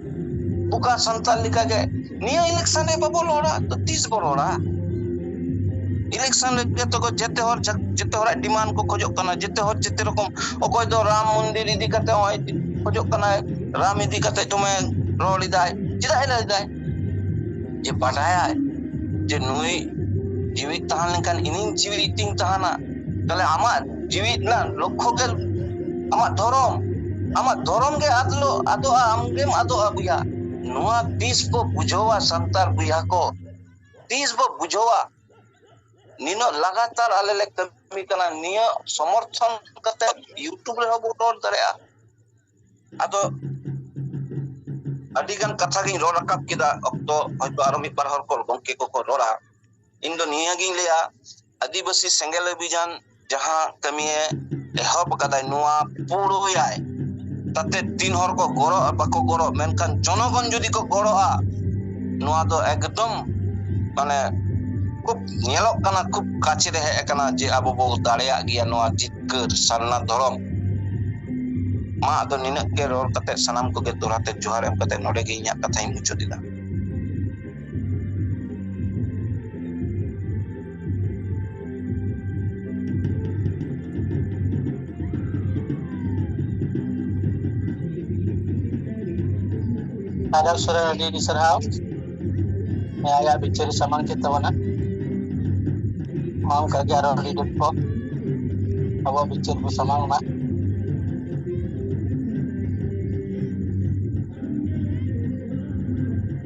ᱚᱠᱟ ᱥᱟᱱᱛᱟᱲ ᱞᱮᱠᱟᱜᱮ ᱱᱤᱭᱟᱹ ᱤᱞᱮᱠᱥᱚᱱ ᱨᱮ ᱵᱟᱵᱚ ᱨᱚᱲᱟ ᱛᱚ ᱛᱤᱥ ᱵᱚ ᱨᱚᱲᱟ ᱤᱞᱮᱠᱥᱚᱱ ᱨᱮ ᱡᱚᱛᱚ ᱠᱚ ᱡᱮᱛᱮ ᱦᱚᱲ ᱡᱮᱛᱮ ᱦᱚᱲᱟᱜ ᱰᱤᱢᱟᱱᱰ ᱠᱚ ᱠᱷᱚᱡᱚᱜ ᱠᱟᱱᱟ ᱡᱮᱛᱮ ᱦᱚᱲ ᱡᱮᱛᱮ ᱨᱚᱠᱚᱢ ᱚᱠᱚᱭ ᱫᱚ ᱨᱟᱢ ᱢᱚᱱᱫᱤᱨ ᱤᱫᱤ ᱠᱟᱛᱮ ᱦᱚᱸᱭ ᱠᱷᱚᱡᱚᱜ ᱠᱟᱱᱟᱭ ᱨᱟᱢ ᱤᱫᱤ ᱠᱟᱛᱮ ᱫᱚᱢᱮ ᱨᱚᱲ ᱮᱫᱟᱭ ᱪᱮᱫᱟᱜ ᱮ ᱞᱟᱹᱭ ᱮᱫᱟᱭ ᱡᱮ ᱵᱟᱰᱟᱭᱟᱭ ᱡᱮ ᱱᱩᱭ ᱡᱤᱣᱤᱫ ᱛᱟᱦᱮᱸ ᱞᱮᱱᱠᱷᱟᱱ ᱤᱧᱤᱧ ᱡᱤᱣᱤᱫ ᱤᱧ ᱛᱟᱦᱮᱱᱟ ᱛᱟᱦᱞᱮ ᱟᱢᱟᱜ ᱡᱤᱣᱤᱫ ᱨᱮᱱᱟᱜ ᱞᱚᱠᱠᱷᱚ ᱜᱮ ᱟᱢᱟᱜ ᱫᱷᱚᱨᱚᱢ ᱟᱢᱟᱜ ᱫᱷᱚᱨᱚᱢ ᱜᱮ ᱟᱫ ᱞᱚ ᱟᱫᱚᱜᱼᱟ ᱟᱢ ᱜᱮᱢ ᱟᱫᱚᱜᱼᱟ ᱵᱚᱭᱦᱟ ᱱᱚᱣᱟ ᱛᱤᱥ ᱵᱚ ᱵᱩᱡᱷᱟᱹᱣᱟ ᱥᱟᱱᱛᱟᱲ ᱵᱚᱭᱦᱟ ᱠᱚ ᱛᱤᱥ ᱵᱚ ᱵᱩᱡᱷᱟᱹᱣᱟ ᱱᱤᱱᱟᱹᱜ ᱞᱟᱜᱟᱛᱟᱨ ᱟᱞᱮ ᱞᱮ ᱠᱟᱹᱢᱤ ᱠᱟᱱᱟ ᱱᱤᱭᱟᱹ ᱥᱚᱢᱚᱨᱛᱷᱚᱱ ᱠᱟᱛᱮ ᱤᱭᱩᱴᱩᱵᱽ ᱨᱮᱦᱚᱸ ᱵᱚ ᱨᱚᱲ ᱫᱟᱲᱮᱭᱟᱜᱼᱟ ᱟᱫᱚ ᱟᱹᱰᱤ ᱜᱟᱱ ᱠᱟᱛᱷᱟ ᱜᱤᱧ ᱨᱚᱲ ᱨᱟᱠᱟᱵ ᱠᱮᱫᱟ ᱚᱠᱛᱚ ᱦᱚᱭᱛᱚ ᱟᱨᱚ ᱢᱤᱫ ᱵᱟᱨ ᱦᱚᱲ ᱠᱚ ᱜᱚᱝᱠᱮ ᱠᱚᱠᱚ ᱨᱚᱲᱟ ᱤᱧ ᱫᱚ ᱱᱤᱭᱟᱹ ᱜᱤᱧ ᱞᱟᱹᱭᱟ ᱟᱹᱫᱤᱵᱟᱹᱥᱤ ᱥᱮᱸᱜᱮᱞ ᱚᱵᱷᱤᱡᱟᱱ ᱡᱟᱦᱟᱸ ᱠᱟᱹᱢᱤᱭᱮ ᱮᱦᱚᱵ ᱟᱠᱟᱫᱟᱭ ᱱᱚᱣᱟ ᱯᱩᱨᱟᱹᱭᱟᱭ ᱛᱟᱛᱮ ᱛᱤᱱ ᱦᱚᱲ ᱠᱚ ᱜᱚᱲᱚᱜ ᱵᱟᱠᱚ ᱜᱚᱲᱚᱜ ᱢᱮᱱᱠᱷᱟᱱ ᱡᱚᱱᱚᱜᱚᱱ ᱡᱩᱫᱤ ᱠᱚ ᱜᱚᱲᱚᱜᱼᱟ ᱱᱚᱣᱟ ᱫᱚ ᱮᱠᱫᱚᱢ ᱢᱟᱱᱮ ᱠᱷᱩᱵ ᱧᱮᱞᱚᱜ ᱠᱟᱱᱟ ᱠᱷᱩᱵ ᱠᱟᱪᱷᱮ ᱨᱮ ᱦᱮᱡ ᱟᱠᱟᱱᱟ ᱡᱮ ᱟᱵᱚ ᱵᱚ ᱫᱟᱲᱮᱭᱟᱜ ᱜᱮᱭᱟ ᱱᱚᱣᱟ ᱡᱤᱛᱠᱟᱹᱨ ᱥᱟᱨᱱᱟ ᱫᱷᱚᱨᱚᱢ ᱢᱟ ᱟᱫᱚ ᱱᱤᱱᱟᱹᱜ ᱜᱮ ᱨᱚᱲ ᱠᱟᱛᱮ ᱥᱟᱱᱟᱢ ᱠᱚᱜᱮ ᱫᱚᱲᱦᱟ ᱛᱮ ᱡᱚᱦᱟᱨ ᱮᱢ ᱠᱟᱛᱮ ᱱᱚᱰᱮ ᱜᱮ ᱤᱧᱟᱹᱜ ᱠᱟᱛᱷᱟᱧ ᱢᱩᱪᱟᱹᱫ ᱮᱫᱟ ᱟᱫᱟᱨ ᱥᱚᱨᱮ ᱟᱹᱰᱤ ᱟᱹᱰᱤ ᱥᱟᱨᱦᱟᱣ ᱟᱭᱟᱜ ᱵᱤᱪᱟᱹᱨ ᱥᱟᱢᱟᱝ ᱠᱮᱫ ᱛᱟᱵᱚᱱᱟ ᱢᱟ ᱚᱱᱠᱟ ᱜᱮ ᱟᱨᱚ ᱟᱹᱰᱤ ᱰᱷᱮᱨ ᱠᱚ ᱟᱵᱚᱣᱟᱜ ᱵᱤᱪᱟᱹᱨ ᱠᱚ ᱥᱟᱢᱟᱝ ᱢᱟ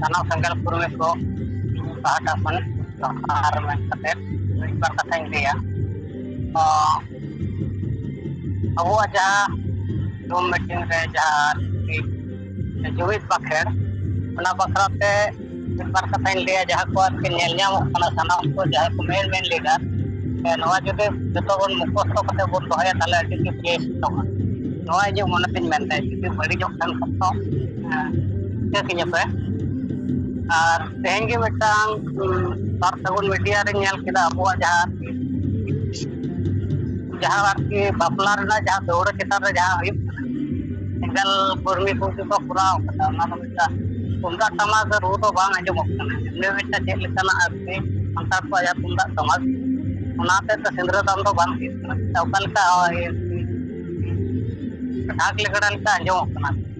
ᱥᱟᱱᱟᱢ ᱥᱟᱱᱛᱟᱲ ᱯᱚᱨᱤᱵᱮᱥ ᱠᱚ ᱯᱟᱦᱴᱟ ᱠᱷᱚᱱ ᱟᱨ ᱢᱮᱱ ᱠᱟᱛᱮᱫ ᱢᱤᱫ ᱵᱟᱨ ᱠᱟᱛᱷᱟᱧ ᱞᱟᱹᱭᱟ ᱚ ᱟᱵᱚᱣᱟᱜ ᱡᱟᱦᱟᱸ ᱡᱩᱢ ᱢᱤᱴᱤᱝ ᱨᱮ ᱡᱟᱦᱟᱸ ᱡᱩᱢᱤᱫ ᱵᱟᱠᱷᱮᱲ ᱚᱱᱟ ᱵᱟᱠᱷᱨᱟ ᱛᱮ ᱢᱤᱫ ᱵᱟᱨ ᱠᱟᱛᱷᱟᱧ ᱞᱟᱹᱭᱟ ᱡᱟᱦᱟᱸ ᱠᱚ ᱟᱨᱠᱤ ᱧᱮᱞ ᱧᱟᱢᱚᱜ ᱠᱟᱱᱟ ᱥᱟᱱᱟᱢ ᱠᱚ ᱡᱟᱦᱟᱸ ᱠᱚ ᱢᱮᱱ ᱢᱮᱱ ᱞᱮᱫᱟ ᱱᱚᱣᱟ ᱡᱩᱫᱤ ᱡᱚᱛᱚ ᱵᱚᱱ ᱢᱩᱠᱷᱚᱥᱛᱚ ᱠᱟᱛᱮ ᱵᱚᱱ ᱫᱚᱦᱚᱭᱟ ᱛᱟᱦᱚᱞᱮ ᱟᱹᱰᱤ ᱜᱮ ᱵᱮᱥ ᱠᱚᱜᱼᱟ ᱱᱚᱣᱟ ᱤᱧᱟᱹᱜ ᱢᱚᱱᱮ ᱛᱤᱧ ᱢᱮᱱᱫᱟ ᱡᱩᱫᱤ ᱵᱟᱹᱲᱤᱡᱚᱜ ᱠᱷᱟᱱ ᱠᱚ ᱦᱮᱸ ᱤᱧ ᱟᱯᱮ ᱟᱨ ᱛᱮᱦᱮᱧ ᱜᱮ ᱢᱤᱫᱴᱟᱝ ᱥᱟᱨ ᱥᱟᱹᱜᱩᱱ ᱢᱤᱰᱤᱭᱟ ᱨᱤᱧ ᱧᱮᱞ ᱠᱮᱫᱟ ᱟᱵᱚᱣᱟᱜ ᱡᱟᱦᱟᱸ ᱡᱟᱦᱟᱸ ᱟᱨᱠᱤ ᱵᱟᱯᱞᱟ ᱨᱮᱱᱟᱜ ᱡᱟᱦᱟᱸ ᱫᱟᱹᱣᱲᱟᱹ ᱪᱮᱛᱟᱱ ᱨᱮ ᱡᱟᱦᱟᱸ ᱦᱩᱭᱩᱜ ᱠᱟᱱᱟ ᱮᱸᱜᱟᱞ ᱠᱚᱨᱢᱤ ᱠᱚ ᱜᱮ ᱠᱚ ᱠᱚᱨᱟᱣ ᱠᱟᱫᱟ ᱚᱱᱟ ᱫᱚ ᱢᱤᱫᱴᱟᱝ ᱛᱩᱢᱫᱟᱜ ᱴᱟᱢᱟᱠ ᱨᱩ ᱫᱚ ᱵᱟᱝ ᱟᱸᱡᱚᱢᱚᱜ ᱠᱟᱱᱟ ᱤᱱᱟᱹ ᱢᱤᱫᱴᱟᱝ ᱪᱮᱫ ᱞᱮᱠᱟᱱᱟᱜ ᱟᱨᱠᱤ ᱥᱟᱱᱛᱟᱲ ᱠᱚᱣᱟᱜ ᱡᱟᱦᱟᱸ ᱛᱩᱢᱫᱟᱜ ᱴᱟᱢᱟᱠ ᱚᱱᱟ ᱦᱚᱛᱮᱫ ᱛᱮ ᱥᱤᱸᱫᱽᱨᱟᱹ ᱫᱟᱱ ᱫᱚ ᱵᱟᱝ ᱦᱩᱭᱩᱜ ᱠᱟᱱᱟ ᱚᱠᱟ ᱞᱮᱠᱟ ᱰᱷᱟᱠ ᱞᱮᱜᱽᱲᱟ ᱞᱮᱠᱟ ᱟᱸᱡᱚᱢᱚᱜ ᱠᱟᱱᱟ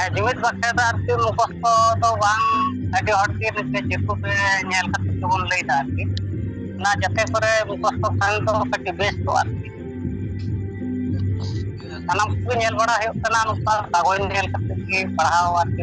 ᱟᱨ ᱡᱩᱢᱤᱫ ᱵᱟᱠᱷᱨᱟ ᱫᱚ ᱟᱨᱠᱤ ᱢᱩᱠᱷᱚᱥᱛᱚ ᱫᱚ ᱵᱟᱝ ᱟᱹᱰᱤ ᱦᱚᱲ ᱜᱮ ᱡᱮᱦᱮᱛᱩ ᱯᱮ ᱧᱮᱞ ᱠᱟᱛᱮ ᱜᱮᱵᱚᱱ ᱞᱟᱹᱭ ᱮᱫᱟ ᱟᱨᱠᱤ ᱚᱱᱟ ᱡᱟᱛᱮ ᱠᱚᱨᱮ ᱢᱩᱠᱷᱚᱥᱛᱚ ᱠᱷᱟᱱ ᱫᱚ ᱠᱟᱹᱴᱤᱡ ᱵᱮᱥ ᱠᱚᱜᱼᱟ ᱟᱨᱠᱤ ᱥᱟᱱᱟᱢ ᱠᱚᱜᱮ ᱧᱮᱞ ᱵᱟᱲᱟ ᱦᱩᱭᱩᱜ ᱠᱟᱱᱟ ᱱᱚᱝᱠᱟ ᱠᱟᱜᱚᱡᱽ ᱧᱮᱞ ᱠᱟᱛᱮ ᱜᱮ ᱯᱟᱲᱦᱟᱣ ᱟᱨᱠᱤ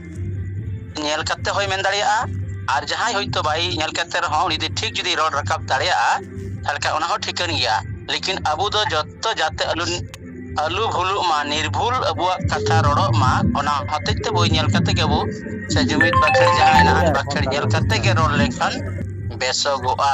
ᱧᱮᱞ ᱠᱟᱛᱮ ᱦᱚᱸᱭ ᱢᱮᱱ ᱫᱟᱲᱮᱭᱟᱜᱼᱟ ᱟᱨ ᱡᱟᱦᱟᱸᱭ ᱦᱚᱭᱛᱳ ᱵᱟᱭ ᱧᱮᱞ ᱠᱟᱛᱮ ᱨᱮᱦᱚᱸ ᱩᱱᱤ ᱡᱩᱫᱤ ᱴᱷᱤᱠ ᱡᱩᱫᱤ ᱨᱚᱲ ᱨᱟᱠᱟᱵ ᱫᱟᱲᱮᱭᱟᱜᱼᱟ ᱛᱟᱦᱚᱞᱮ ᱠᱷᱟᱱ ᱚᱱᱟ ᱦᱚᱸ ᱴᱷᱤᱠᱟᱹᱱ ᱜᱮᱭᱟ ᱞᱮᱠᱤᱱ ᱟᱵᱚ ᱫᱚ ᱡᱚᱛᱚ ᱡᱟᱛᱮ ᱟᱞᱚ ᱟᱞᱚ ᱵᱷᱩᱞᱩᱜ ᱢᱟ ᱱᱤᱨᱵᱷᱩᱞ ᱟᱵᱚᱣᱟᱜ ᱠᱟᱛᱷᱟ ᱨᱚᱲᱚᱜ ᱢᱟ ᱚᱱᱟ ᱦᱚᱛᱮᱡ ᱛᱮ ᱵᱳᱭ ᱧᱮᱞ ᱠᱟᱛᱮ ᱜᱮ ᱟᱵᱚ ᱥᱮ ᱡᱩᱢᱤᱫ ᱵᱟᱠᱷᱮᱲ ᱡᱟᱦᱟᱸ ᱦᱮᱱᱟᱜ ᱟᱱ ᱵᱟᱠᱷᱮᱲ ᱧᱮᱞ ᱠᱟᱛᱮ ᱜᱮ ᱨᱚᱲ ᱞᱮᱱᱠᱷᱟᱱ ᱵᱮᱥᱚᱜᱚᱜᱼᱟ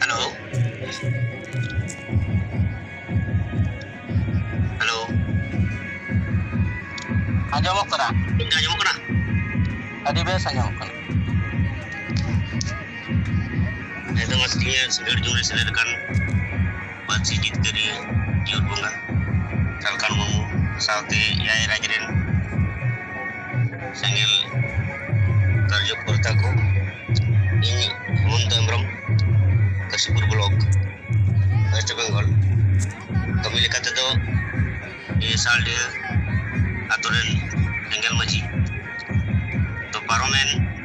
Hello? Hello? ᱟᱸᱡᱚᱢᱚᱜ ᱠᱟᱱᱟ ᱤᱧ ᱟᱸᱡᱚᱢᱚᱜ ᱠᱟᱱᱟ ᱟᱹᱰᱤ ᱵᱮᱥ ᱟᱸᱡᱚᱢᱚᱜ ᱠᱟᱱᱟ ᱱᱤᱛᱚᱜ ᱢᱟ ᱥᱤᱱᱤᱭᱟᱨ ᱥᱤᱜᱟᱹᱲ ᱡᱩᱨᱤ ᱥᱮᱞᱮᱫ ᱟᱠᱟᱱ ᱯᱟᱹᱨᱥᱤ ᱡᱤᱛᱠᱟᱹᱨᱤᱭᱟᱹ ᱡᱤᱭᱚᱱ ᱵᱚᱸᱜᱟ ᱥᱟᱞᱠᱷᱟᱱ ᱢᱩᱨᱢᱩ ᱥᱟᱶᱛᱮ ᱮᱭᱟᱭ ᱨᱟᱡᱽ ᱨᱮᱱ ᱥᱮᱸᱜᱮᱞ ᱠᱟᱨᱡᱚᱠᱚᱨᱛᱟ ᱠᱚ ᱤᱧ Hemanta Hembrom Kashipur block west Bengal ᱠᱟᱹᱢᱤ ᱞᱮᱠᱟ ᱛᱮᱫᱚ ᱥᱟᱞᱰᱤᱦᱟᱹ ᱟᱛᱳ ᱨᱮᱱ ᱮᱸᱜᱮᱞ ᱢᱟᱹᱡᱷᱤ ᱛᱚ ᱯᱟᱨᱚᱢᱮᱱ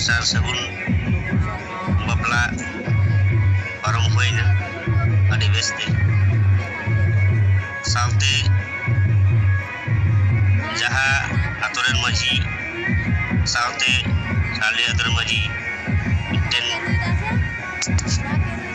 ᱥᱟᱨ ᱥᱟᱹᱜᱩᱱ ᱵᱟᱯᱞᱟ ᱯᱟᱨᱚᱢ ᱦᱩᱭᱱᱟ ᱟᱹᱰᱤ ᱵᱮᱥ ᱛᱮ ᱥᱟᱶᱛᱮ ᱡᱟᱦᱟᱸ ᱟᱛᱳ ᱨᱮᱱ ᱢᱟᱺᱡᱷᱤ ᱥᱟᱶᱛᱮ ᱥᱟᱨᱞᱤ ᱟᱛᱳ ᱨᱮᱱ ᱢᱟᱺᱡᱷᱤ ᱢᱤᱫᱴᱮᱱ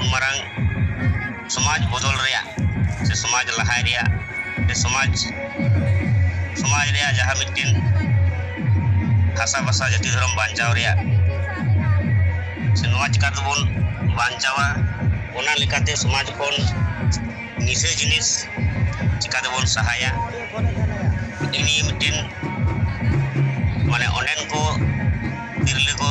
ᱩᱱ ᱢᱟᱨᱟᱝ ᱥᱚᱢᱟᱡᱽ ᱵᱚᱫᱚᱞ ᱨᱮᱭᱟᱜ ᱥᱮ ᱥᱚᱢᱟᱡᱽ ᱞᱟᱦᱟᱭ ᱨᱮᱭᱟᱜ ᱥᱮ ᱥᱚᱢᱟᱡᱽ ᱥᱚᱢᱟᱡᱽ ᱨᱮᱭᱟᱜ ᱡᱟᱦᱟᱸ ᱢᱤᱫᱴᱮᱱ ᱦᱟᱥᱟ ᱵᱷᱟᱥᱟ ᱡᱟᱹᱛᱤ ᱫᱷᱚᱨᱚᱢ ᱵᱟᱧᱪᱟᱣ ᱨᱮᱭᱟᱜ ᱥᱮ ᱱᱚᱣᱟ ᱪᱤᱠᱟ ᱛᱮᱵᱚᱱ ᱵᱟᱧᱪᱟᱣᱟ ᱚᱱᱟ ᱞᱮᱠᱟᱛᱮ ᱥᱚᱢᱟᱡᱽ ᱠᱷᱚᱱ ᱱᱤᱥᱟᱹ ᱡᱤᱱᱤᱥ ᱪᱤᱠᱟ ᱛᱮᱵᱚᱱ ᱥᱟᱦᱟᱭᱟ ᱤᱱᱤ ᱢᱤᱫᱴᱮᱱ ᱢᱟᱱᱮ ᱚᱸᱰᱮᱱ ᱠᱚ ᱛᱤᱨᱞᱟᱹ ᱠᱚ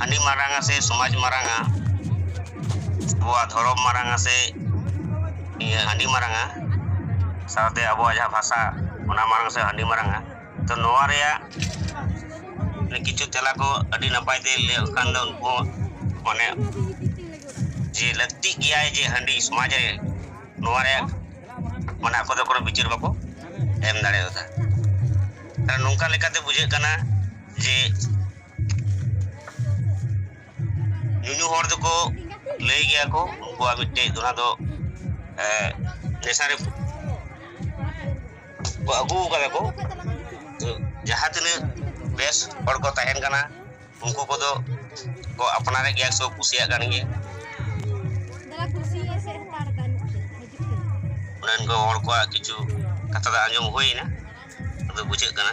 ᱦᱟᱺᱰᱤ ᱢᱟᱨᱟᱝ ᱟᱥᱮ ᱥᱚᱢᱟᱡᱽ ᱢᱟᱨᱟᱝᱟ ᱟᱵᱚᱣᱟᱜ ᱫᱷᱚᱨᱚᱢ ᱢᱟᱨᱟᱝ ᱟᱥᱮ ᱤᱭᱟᱹ ᱦᱟᱺᱰᱤ ᱢᱟᱨᱟᱝᱟ ᱥᱟᱶᱛᱮ ᱟᱵᱚᱣᱟᱜ ᱡᱟᱦᱟᱸ ᱵᱷᱟᱥᱟ ᱚᱱᱟ ᱢᱟᱨᱟᱝ ᱥᱮ ᱦᱟᱺᱰᱤ ᱢᱟᱨᱟᱝᱟ ᱛᱚ ᱱᱚᱣᱟ ᱨᱮᱭᱟᱜ ᱠᱤᱪᱷᱩ ᱛᱮᱞᱟ ᱠᱚ ᱟᱹᱰᱤ ᱱᱟᱯᱟᱭ ᱛᱮ ᱞᱟᱹᱭ ᱠᱟᱱ ᱫᱚ ᱩᱱᱠᱩ ᱢᱟᱱᱮ ᱡᱮ ᱞᱟᱹᱠᱛᱤᱜ ᱜᱮᱭᱟᱭ ᱡᱮ ᱦᱟᱺᱰᱤ ᱥᱚᱢᱟᱡᱽ ᱨᱮ ᱱᱚᱣᱟ ᱨᱮᱭᱟᱜ ᱢᱟᱱᱮ ᱟᱠᱚ ᱫᱚ ᱠᱳᱱᱳ ᱵᱤᱪᱟᱹᱨ ᱵᱟᱠᱚ ᱮᱢ ᱫᱟᱲᱮᱭᱟᱫᱟ ᱱᱚᱝᱠᱟ ᱞᱮᱠᱟᱛᱮ ᱵᱩᱡᱷᱟᱹᱜ ᱠᱟᱱᱟ ᱡᱮ ᱧᱩᱧᱩ ᱦᱚᱲ ᱫᱚᱠᱚ ᱞᱟᱹᱭ ᱜᱮᱭᱟ ᱠᱚ ᱩᱱᱠᱩᱣᱟᱜ ᱢᱤᱫᱴᱮᱡ ᱫᱚ ᱚᱱᱟ ᱫᱚ ᱱᱮᱥᱟᱨᱮ ᱠᱚ ᱟᱹᱜᱩ ᱠᱟᱫᱟ ᱠᱚ ᱡᱟᱦᱟᱸ ᱛᱤᱱᱟᱹᱜ ᱵᱮᱥ ᱦᱚᱲ ᱠᱚ ᱛᱟᱦᱮᱱ ᱠᱟᱱᱟ ᱩᱱᱠᱩ ᱠᱚᱫᱚ ᱠᱚ ᱟᱯᱱᱟᱨᱮᱫ ᱜᱮᱭᱟ ᱥᱮ ᱠᱩᱥᱤᱭᱟᱜ ᱠᱟᱱ ᱜᱮᱭᱟ ᱚᱸᱰᱮᱱ ᱠᱚ ᱦᱚᱲ ᱠᱚᱣᱟᱜ ᱠᱤᱪᱷᱩ ᱠᱟᱛᱷᱟ ᱫᱚ ᱟᱸᱡᱚᱢ ᱦᱩᱭᱱᱟ ᱟᱫᱚ ᱵᱩᱡᱷᱟᱹᱜ ᱠᱟᱱᱟ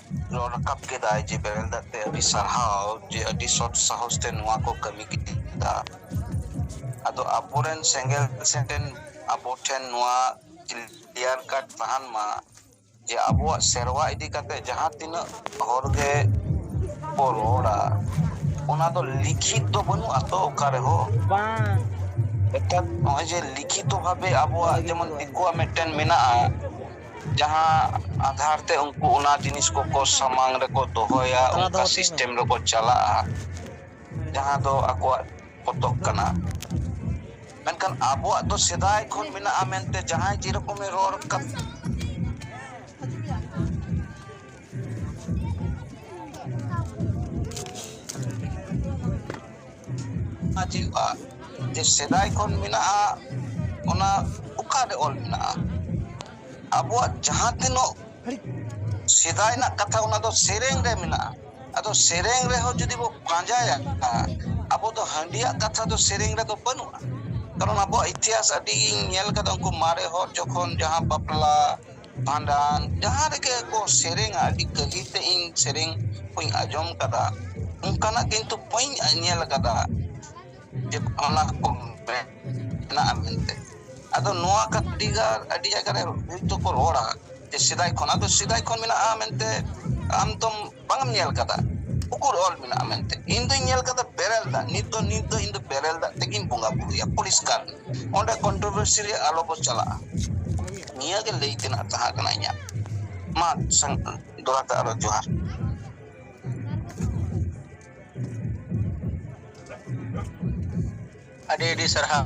ᱨᱚᱲ ᱨᱟᱠᱟᱵ ᱠᱮᱫᱟᱭ ᱡᱮ ᱵᱮᱨᱮᱞ ᱫᱟᱜ ᱛᱮ ᱟᱹᱰᱤ ᱥᱟᱨᱦᱟᱣ ᱡᱮ ᱟᱹᱰᱤ ᱥᱚᱛ ᱥᱟᱦᱚᱥ ᱛᱮ ᱱᱚᱣᱟ ᱠᱚ ᱠᱟᱹᱢᱤ ᱠᱮᱫᱟ ᱟᱫᱚ ᱟᱵᱚᱨᱮᱱ ᱥᱮᱸᱜᱮᱞ ᱥᱮᱱ ᱨᱮᱱ ᱟᱵᱚ ᱴᱷᱮᱱ ᱱᱚᱣᱟ ᱠᱞᱤᱭᱟᱨ ᱠᱟᱴ ᱛᱟᱦᱮᱱ ᱢᱟ ᱡᱮ ᱟᱵᱚᱣᱟᱜ ᱥᱮᱨᱣᱟ ᱤᱫᱤ ᱠᱟᱛᱮ ᱡᱟᱦᱟᱸ ᱛᱤᱱᱟᱹᱜ ᱦᱚᱲ ᱜᱮ ᱠᱚ ᱨᱚᱲᱟ ᱚᱱᱟ ᱫᱚ ᱞᱤᱠᱷᱤᱛ ᱫᱚ ᱵᱟᱹᱱᱩᱜ ᱟᱛᱚ ᱚᱠᱟ ᱨᱮᱦᱚᱸ ᱵᱟᱝ ᱱᱮᱛᱟᱨ ᱱᱚᱜᱼᱚᱭ ᱡᱮ ᱞᱤᱠᱷᱤᱛᱚ ᱵᱷᱟᱵᱮ ᱟᱵᱚᱣᱟᱜ ᱡᱮᱢᱚᱱ ᱫᱤᱠᱩᱣᱟᱜ ᱢᱤᱫᱴᱮᱱ ᱢᱮᱱᱟᱜᱼᱟ ᱡᱟᱦᱟᱸ ᱟᱫᱷᱟᱨ ᱛᱮ ᱩᱱᱠᱩ ᱚᱱᱟ ᱡᱤᱱᱤᱥ ᱠᱚᱠᱚ ᱥᱟᱢᱟᱝ ᱨᱮᱠᱚ ᱫᱚᱦᱚᱭᱟ ᱛᱟᱞᱟ ᱚᱱᱠᱟ ᱫᱚᱦᱚ ᱠᱟᱛᱮᱫ ᱢᱮ ᱥᱤᱥᱴᱮᱢ ᱨᱮᱠᱚ ᱪᱟᱞᱟᱜᱼᱟ ᱡᱟᱦᱟᱸ ᱫᱚ ᱟᱠᱚᱣᱟᱜ ᱯᱚᱛᱚᱵ ᱠᱟᱱᱟ ᱢᱮᱱᱠᱷᱟᱱ ᱟᱵᱚᱣᱟᱜ ᱫᱚ ᱥᱮᱫᱟᱭ ᱠᱷᱚᱱ ᱢᱮᱱᱟᱜᱼᱟ ᱢᱮᱱᱛᱮ ᱡᱟᱦᱟᱸᱭ ᱡᱮᱨᱚᱠᱚᱢᱮ ᱨᱚᱲ ᱠᱟᱫ ᱦᱤᱡᱩᱜᱼᱟ ᱡᱮ ᱥᱮᱫᱟᱭ ᱠᱷᱚᱱ ᱢᱮᱱᱟᱜᱼᱟ ᱚᱱᱟ ᱚᱠᱟᱨᱮ ᱚᱞ ᱢᱮᱱᱟᱜᱼᱟ ᱟᱵᱚᱣᱟᱜ ᱡᱟᱦᱟᱸ ᱛᱤᱱᱟᱹᱜ ᱥᱮᱫᱟᱭ ᱨᱮᱱᱟᱜ ᱠᱟᱛᱷᱟ ᱚᱱᱟ ᱫᱚ ᱥᱮᱨᱮᱧ ᱨᱮ ᱢᱮᱱᱟᱜᱼᱟ ᱟᱫᱚ ᱥᱮᱨᱮᱧ ᱨᱮᱦᱚᱸ ᱡᱩᱫᱤ ᱵᱚ ᱯᱟᱸᱡᱟᱭᱟ ᱟᱵᱚ ᱫᱚ ᱦᱟᱺᱰᱤᱭᱟᱜ ᱠᱟᱛᱷᱟ ᱫᱚ ᱥᱮᱨᱮᱧ ᱨᱮᱫᱚ ᱵᱟᱹᱱᱩᱜᱼᱟ ᱠᱟᱨᱚᱱ ᱟᱵᱚᱣᱟᱜ ᱤᱛᱤᱦᱟᱥ ᱟᱹᱰᱤ ᱧᱮᱞ ᱠᱟᱫᱟ ᱩᱱᱠᱩ ᱢᱟᱨᱮ ᱦᱚᱲ ᱡᱚᱠᱷᱚᱱ ᱡᱟᱦᱟᱸ ᱵᱟᱯᱞᱟ ᱵᱷᱟᱸᱰᱟᱱ ᱡᱟᱦᱟᱸ ᱨᱮᱜᱮ ᱠᱚ ᱥᱮᱨᱮᱧᱟ ᱟᱹᱰᱤ ᱜᱟᱹᱦᱤᱨ ᱛᱮ ᱤᱧ ᱥᱮᱨᱮᱧ ᱠᱚᱧ ᱟᱸᱡᱚᱢ ᱠᱟᱫᱟ ᱚᱱᱠᱟᱱᱟᱜ ᱠᱤᱱᱛᱩ ᱵᱟᱹᱧ ᱧᱮᱞ ᱠᱟᱫᱟ ᱡᱮ ᱚᱱᱟ ᱠᱚ ᱢᱮᱱᱟᱜᱼᱟ ᱢᱮᱱᱛᱮ ᱟᱫᱚ ᱱᱚᱣᱟ ᱟᱹᱰᱤ ᱜᱟᱱ ᱟᱹᱰᱤ ᱡᱟᱭᱜᱟ ᱨᱮ ᱵᱤᱨᱩᱫᱷ ᱠᱚ ᱨᱚᱲᱟ ᱥᱮᱫᱟᱭ ᱠᱷᱚᱱᱟᱜ ᱫᱚ ᱥᱮᱫᱟᱭ ᱠᱷᱚᱱ ᱢᱮᱱᱟᱜᱼᱟ ᱢᱮᱱᱛᱮ ᱟᱢ ᱛᱚᱢ ᱵᱟᱝ ᱮᱢ ᱧᱮᱞ ᱠᱟᱫᱟ ᱩᱠᱩᱨ ᱚᱞ ᱢᱮᱱᱟᱜᱼᱟ ᱢᱮᱱᱛᱮ ᱤᱧ ᱫᱩᱧ ᱧᱮᱞ ᱠᱟᱫᱟ ᱵᱮᱨᱮᱞ ᱫᱟᱜ ᱱᱤᱛ ᱫᱚ ᱱᱤᱛ ᱫᱚ ᱤᱧ ᱫᱚ ᱵᱮᱨᱮᱞ ᱫᱟᱜ ᱛᱮᱜᱤᱧ ᱵᱚᱸᱜᱟ ᱵᱩᱨᱩᱭᱟ ᱯᱚᱨᱤᱥᱠᱟᱨ ᱚᱸᱰᱮ ᱠᱚᱱᱴᱨᱚᱵᱷᱟᱨᱥᱤ ᱨᱮ ᱟᱞᱚ ᱵᱚ ᱪᱟᱞᱟᱜᱼᱟ ᱱᱤᱭᱟᱹ ᱜᱮ ᱞᱟᱹᱭ ᱛᱮᱱᱟᱜ ᱛᱟᱦᱮᱸ ᱠᱟᱱᱟ ᱤᱧᱟᱹᱜ ᱢᱟ ᱫᱚᱲᱟ ᱛᱮ ᱟᱨᱚ ᱡᱚᱦᱟᱨ ᱟᱹᱰᱤ ᱟᱹᱰᱤ ᱥᱟᱨᱦᱟᱣ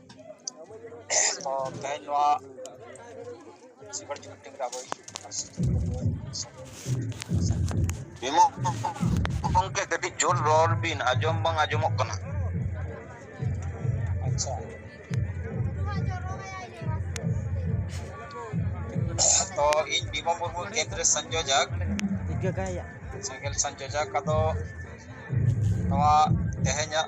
ᱵᱤᱢᱚᱞ ᱜᱚᱝᱠᱮ ᱠᱟᱹᱴᱤᱡ ᱡᱳᱨ ᱨᱚᱲ ᱵᱤᱱ ᱟᱸᱡᱚᱢ ᱵᱟᱝ ᱟᱸᱡᱚᱢᱚᱜ ᱠᱟᱱᱟ ᱟᱪᱪᱷᱟ ᱛᱚ ᱤᱧ ᱵᱤᱢᱚᱞ ᱢᱩᱨᱢᱩ ᱠᱮᱱᱫᱨᱮ ᱥᱚᱧᱡᱳᱡᱚᱠ ᱥᱟᱸᱜᱮᱞ ᱥᱚᱧᱡᱳᱡᱚᱠ ᱟᱫᱚ ᱱᱚᱣᱟ ᱛᱮᱦᱮᱧᱟᱜ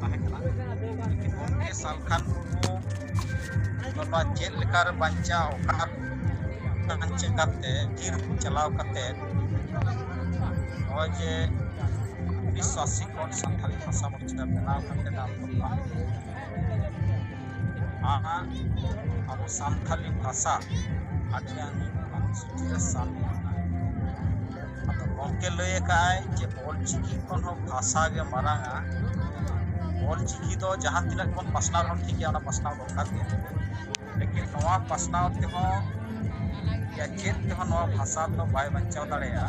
ᱛᱟᱦᱮᱸ ᱠᱟᱱᱟ ᱜᱚᱢᱠᱮ ᱥᱟᱞᱠᱷᱟᱱ ᱢᱩᱨᱢᱩ ᱱᱚᱣᱟ ᱪᱮᱫ ᱞᱮᱠᱟᱨᱮ ᱵᱟᱧᱪᱟᱣ ᱚᱠᱟ ᱵᱟᱧᱪᱟᱣ ᱠᱟᱛᱮ ᱵᱤᱨ ᱪᱟᱞᱟᱣ ᱠᱟᱛᱮ ᱱᱚᱜᱼᱚᱭ ᱡᱮ ᱩᱱᱤᱥᱥᱚ ᱟᱥᱤ ᱠᱷᱚᱱ ᱥᱟᱱᱛᱟᱲᱤ ᱵᱷᱟᱥᱟ ᱢᱚᱨᱪᱟ ᱵᱮᱱᱟᱣ ᱠᱟᱛᱮ ᱟᱵᱚ ᱟᱨ ᱟᱵᱚ ᱥᱟᱱᱛᱟᱞᱤ ᱵᱷᱟᱥᱟ ᱟᱹᱰᱤ ᱜᱟᱱ ᱚᱱᱩᱥᱩᱪᱤᱛ ᱨᱮ ᱥᱟᱢᱤᱞ ᱟᱠᱟᱱᱟ ᱟᱫᱚ ᱜᱚᱢᱠᱮ ᱞᱟᱹᱭ ᱟᱠᱟᱫ ᱟᱭ ᱡᱮ ᱚᱞ ᱪᱤᱠᱤ ᱠᱷᱚᱱ ᱦᱚᱸ ᱵᱷᱟᱥᱟ ᱜᱮ ᱢᱟᱨᱟᱝ ᱟ ᱚᱞ ᱪᱤᱠᱤ ᱫᱚ ᱡᱟᱦᱟᱸ ᱛᱤᱱᱟᱹᱜ ᱵᱚᱱ ᱯᱟᱥᱱᱟᱣ ᱨᱮᱦᱚᱸ ᱴᱷᱤᱠ ᱜᱮᱭᱟ ᱚᱱᱟ ᱯᱟᱥᱱᱟᱣ ᱫᱚᱨᱠᱟᱨ ᱜᱮ ᱞᱮᱠᱤᱱ ᱱᱚᱣᱟ ᱯᱟᱥᱱᱟᱣ ᱛᱮᱦᱚᱸ ᱪᱮᱫ ᱛᱮᱦᱚᱸ ᱱᱚᱣᱟ ᱵᱷᱟᱥᱟ ᱫᱚ ᱵᱟᱭ ᱵᱟᱧᱪᱟᱣ ᱫᱟᱲᱮᱭᱟᱜᱼᱟ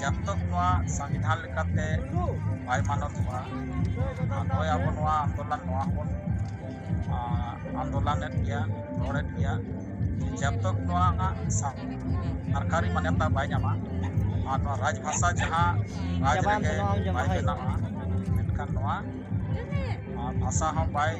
ᱡᱟᱵ ᱛᱚᱠ ᱱᱚᱣᱟ ᱥᱚᱝᱵᱤᱫᱷᱟᱱ ᱞᱮᱠᱟᱛᱮ ᱵᱟᱭ ᱢᱟᱱᱚᱛᱚᱜᱼᱟ ᱱᱚᱜᱼᱚᱭ ᱟᱵᱚ ᱱᱚᱣᱟ ᱟᱱᱫᱳᱞᱚᱱ ᱱᱚᱣᱟ ᱦᱚᱸᱵᱚᱱ ᱟᱱᱫᱳᱞᱚᱱᱮᱫ ᱜᱮᱭᱟ ᱨᱚᱲᱮᱫ ᱜᱮᱭᱟ ᱡᱟᱵ ᱛᱚᱠ ᱱᱚᱣᱟ ᱥᱚᱨᱠᱟᱨᱤ ᱢᱟᱱᱚᱛᱟ ᱵᱟᱭ ᱧᱟᱢᱟ ᱟᱨ ᱱᱚᱣᱟ ᱨᱟᱡᱽ ᱵᱷᱟᱥᱟ ᱡᱟᱦᱟᱸ ᱨᱟᱡᱽ ᱨᱮᱜᱮ ᱵᱟᱭ ᱵᱮᱱᱟᱜᱼᱟ ᱢᱮᱱᱠᱷᱟᱱ ᱱᱚᱣᱟ ᱵᱷᱟᱥᱟ ᱦᱚᱸ ᱵᱟᱭ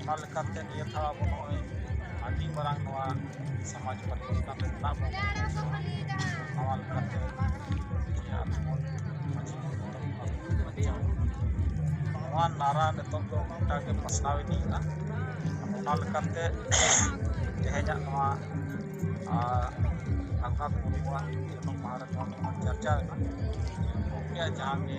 ᱚᱱᱟ ᱞᱮᱠᱟᱛᱮ ᱱᱤᱭᱟᱹ ᱫᱷᱟᱣ ᱟᱵᱚ ᱱᱚᱜᱼᱚᱭ ᱟᱹᱰᱤ ᱢᱟᱨᱟᱝ ᱱᱚᱣᱟ ᱥᱚᱢᱟᱡᱽ ᱯᱚᱨᱤᱵᱚᱨᱛᱚᱱ ᱨᱮ ᱢᱮᱱᱟᱜ ᱵᱚᱱᱟ ᱱᱚᱣᱟ ᱞᱮᱠᱟᱛᱮ ᱱᱚᱣᱟ ᱱᱟᱨᱟ ᱱᱤᱛᱚᱜ ᱫᱚ ᱜᱚᱴᱟ ᱜᱮ ᱯᱟᱥᱱᱟᱣ ᱤᱫᱤᱜ ᱠᱟᱱᱟ ᱚᱱᱟ ᱞᱮᱠᱟᱛᱮ ᱛᱮᱦᱮᱧᱟᱜ ᱱᱚᱣᱟ ᱟᱠᱟ ᱠᱚ ᱦᱩᱭᱩᱜᱼᱟ ᱡᱚᱱᱚᱢ ᱢᱟᱦᱟ ᱨᱮ ᱱᱚᱣᱟ ᱠᱚ ᱪᱟᱨᱪᱟᱣᱮᱱᱟ ᱜᱚᱢᱠᱮᱭᱟᱜ ᱡᱟᱦᱟᱸ ᱜᱮ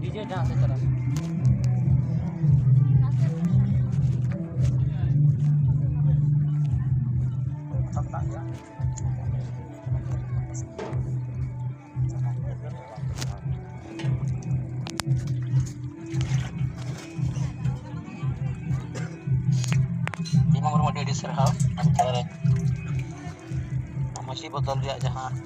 ᱰᱤᱡᱮ ᱰᱟᱱᱥ ᱪᱟᱞᱟᱜ ᱫᱤᱢᱟ ᱢᱩᱨᱢᱩ ᱟᱹᱰᱤ ᱟᱹᱰᱤ ᱥᱟᱨᱦᱟᱣ ᱟᱢ ᱛᱟᱞᱟᱨᱮ ᱢᱟᱹᱡᱷᱤ ᱵᱚᱫᱚᱞ ᱨᱮᱭᱟᱜ ᱡᱟᱦᱟᱸ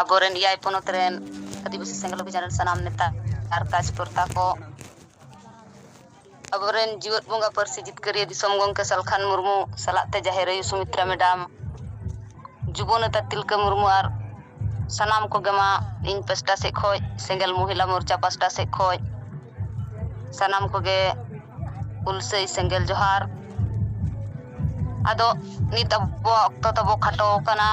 ᱟᱵᱚᱨᱮᱱ ᱮᱭᱟᱭ ᱯᱚᱱᱚᱛ ᱨᱮᱱ ᱟᱹᱫᱤᱵᱟᱹᱥᱤ ᱥᱮᱸᱜᱮᱞ ᱚᱵᱷᱤᱡᱟᱱ ᱨᱮᱱ ᱥᱟᱱᱟᱢ ᱱᱮᱛᱟ ᱟᱨ ᱠᱟᱡᱽᱠᱚᱨᱛᱟ ᱠᱚ ᱟᱵᱚᱨᱮᱱ ᱡᱤᱣᱮᱫ ᱵᱚᱸᱜᱟ ᱯᱟᱹᱨᱥᱤ ᱡᱤᱛᱠᱟᱹᱨᱤᱭᱟᱹ ᱫᱤᱥᱚᱢ ᱜᱚᱢᱠᱮ ᱥᱟᱞᱠᱷᱟᱱ ᱢᱩᱨᱢᱩ ᱥᱟᱞᱟᱜ ᱛᱮ ᱡᱟᱦᱮᱨ ᱟᱭᱳ ᱥᱩᱢᱤᱛᱨᱟ ᱢᱮᱰᱟᱢ ᱡᱩᱵᱚ ᱱᱮᱛᱟ ᱛᱤᱞᱠᱟᱹ ᱢᱩᱨᱢᱩ ᱟᱨ ᱥᱟᱱᱟᱢ ᱠᱚᱜᱮ ᱢᱟ ᱤᱧ ᱯᱟᱥᱴᱟ ᱥᱮᱫ ᱠᱷᱚᱱ ᱥᱮᱸᱜᱮᱞ ᱢᱚᱦᱤᱞᱟ ᱢᱳᱨᱪᱟ ᱯᱟᱥᱴᱟ ᱥᱮᱫ ᱠᱷᱚᱱ ᱥᱟᱱᱟᱢ ᱠᱚᱜᱮ ᱩᱞᱥᱟᱹᱭ ᱥᱮᱸᱜᱮᱞ ᱡᱚᱦᱟᱨ ᱟᱫᱚ ᱱᱤᱛ ᱟᱵᱚᱣᱟᱜ ᱚᱠᱛᱚ ᱛᱟᱵᱚ ᱠᱷᱟᱴᱚ ᱟᱠᱟᱱᱟ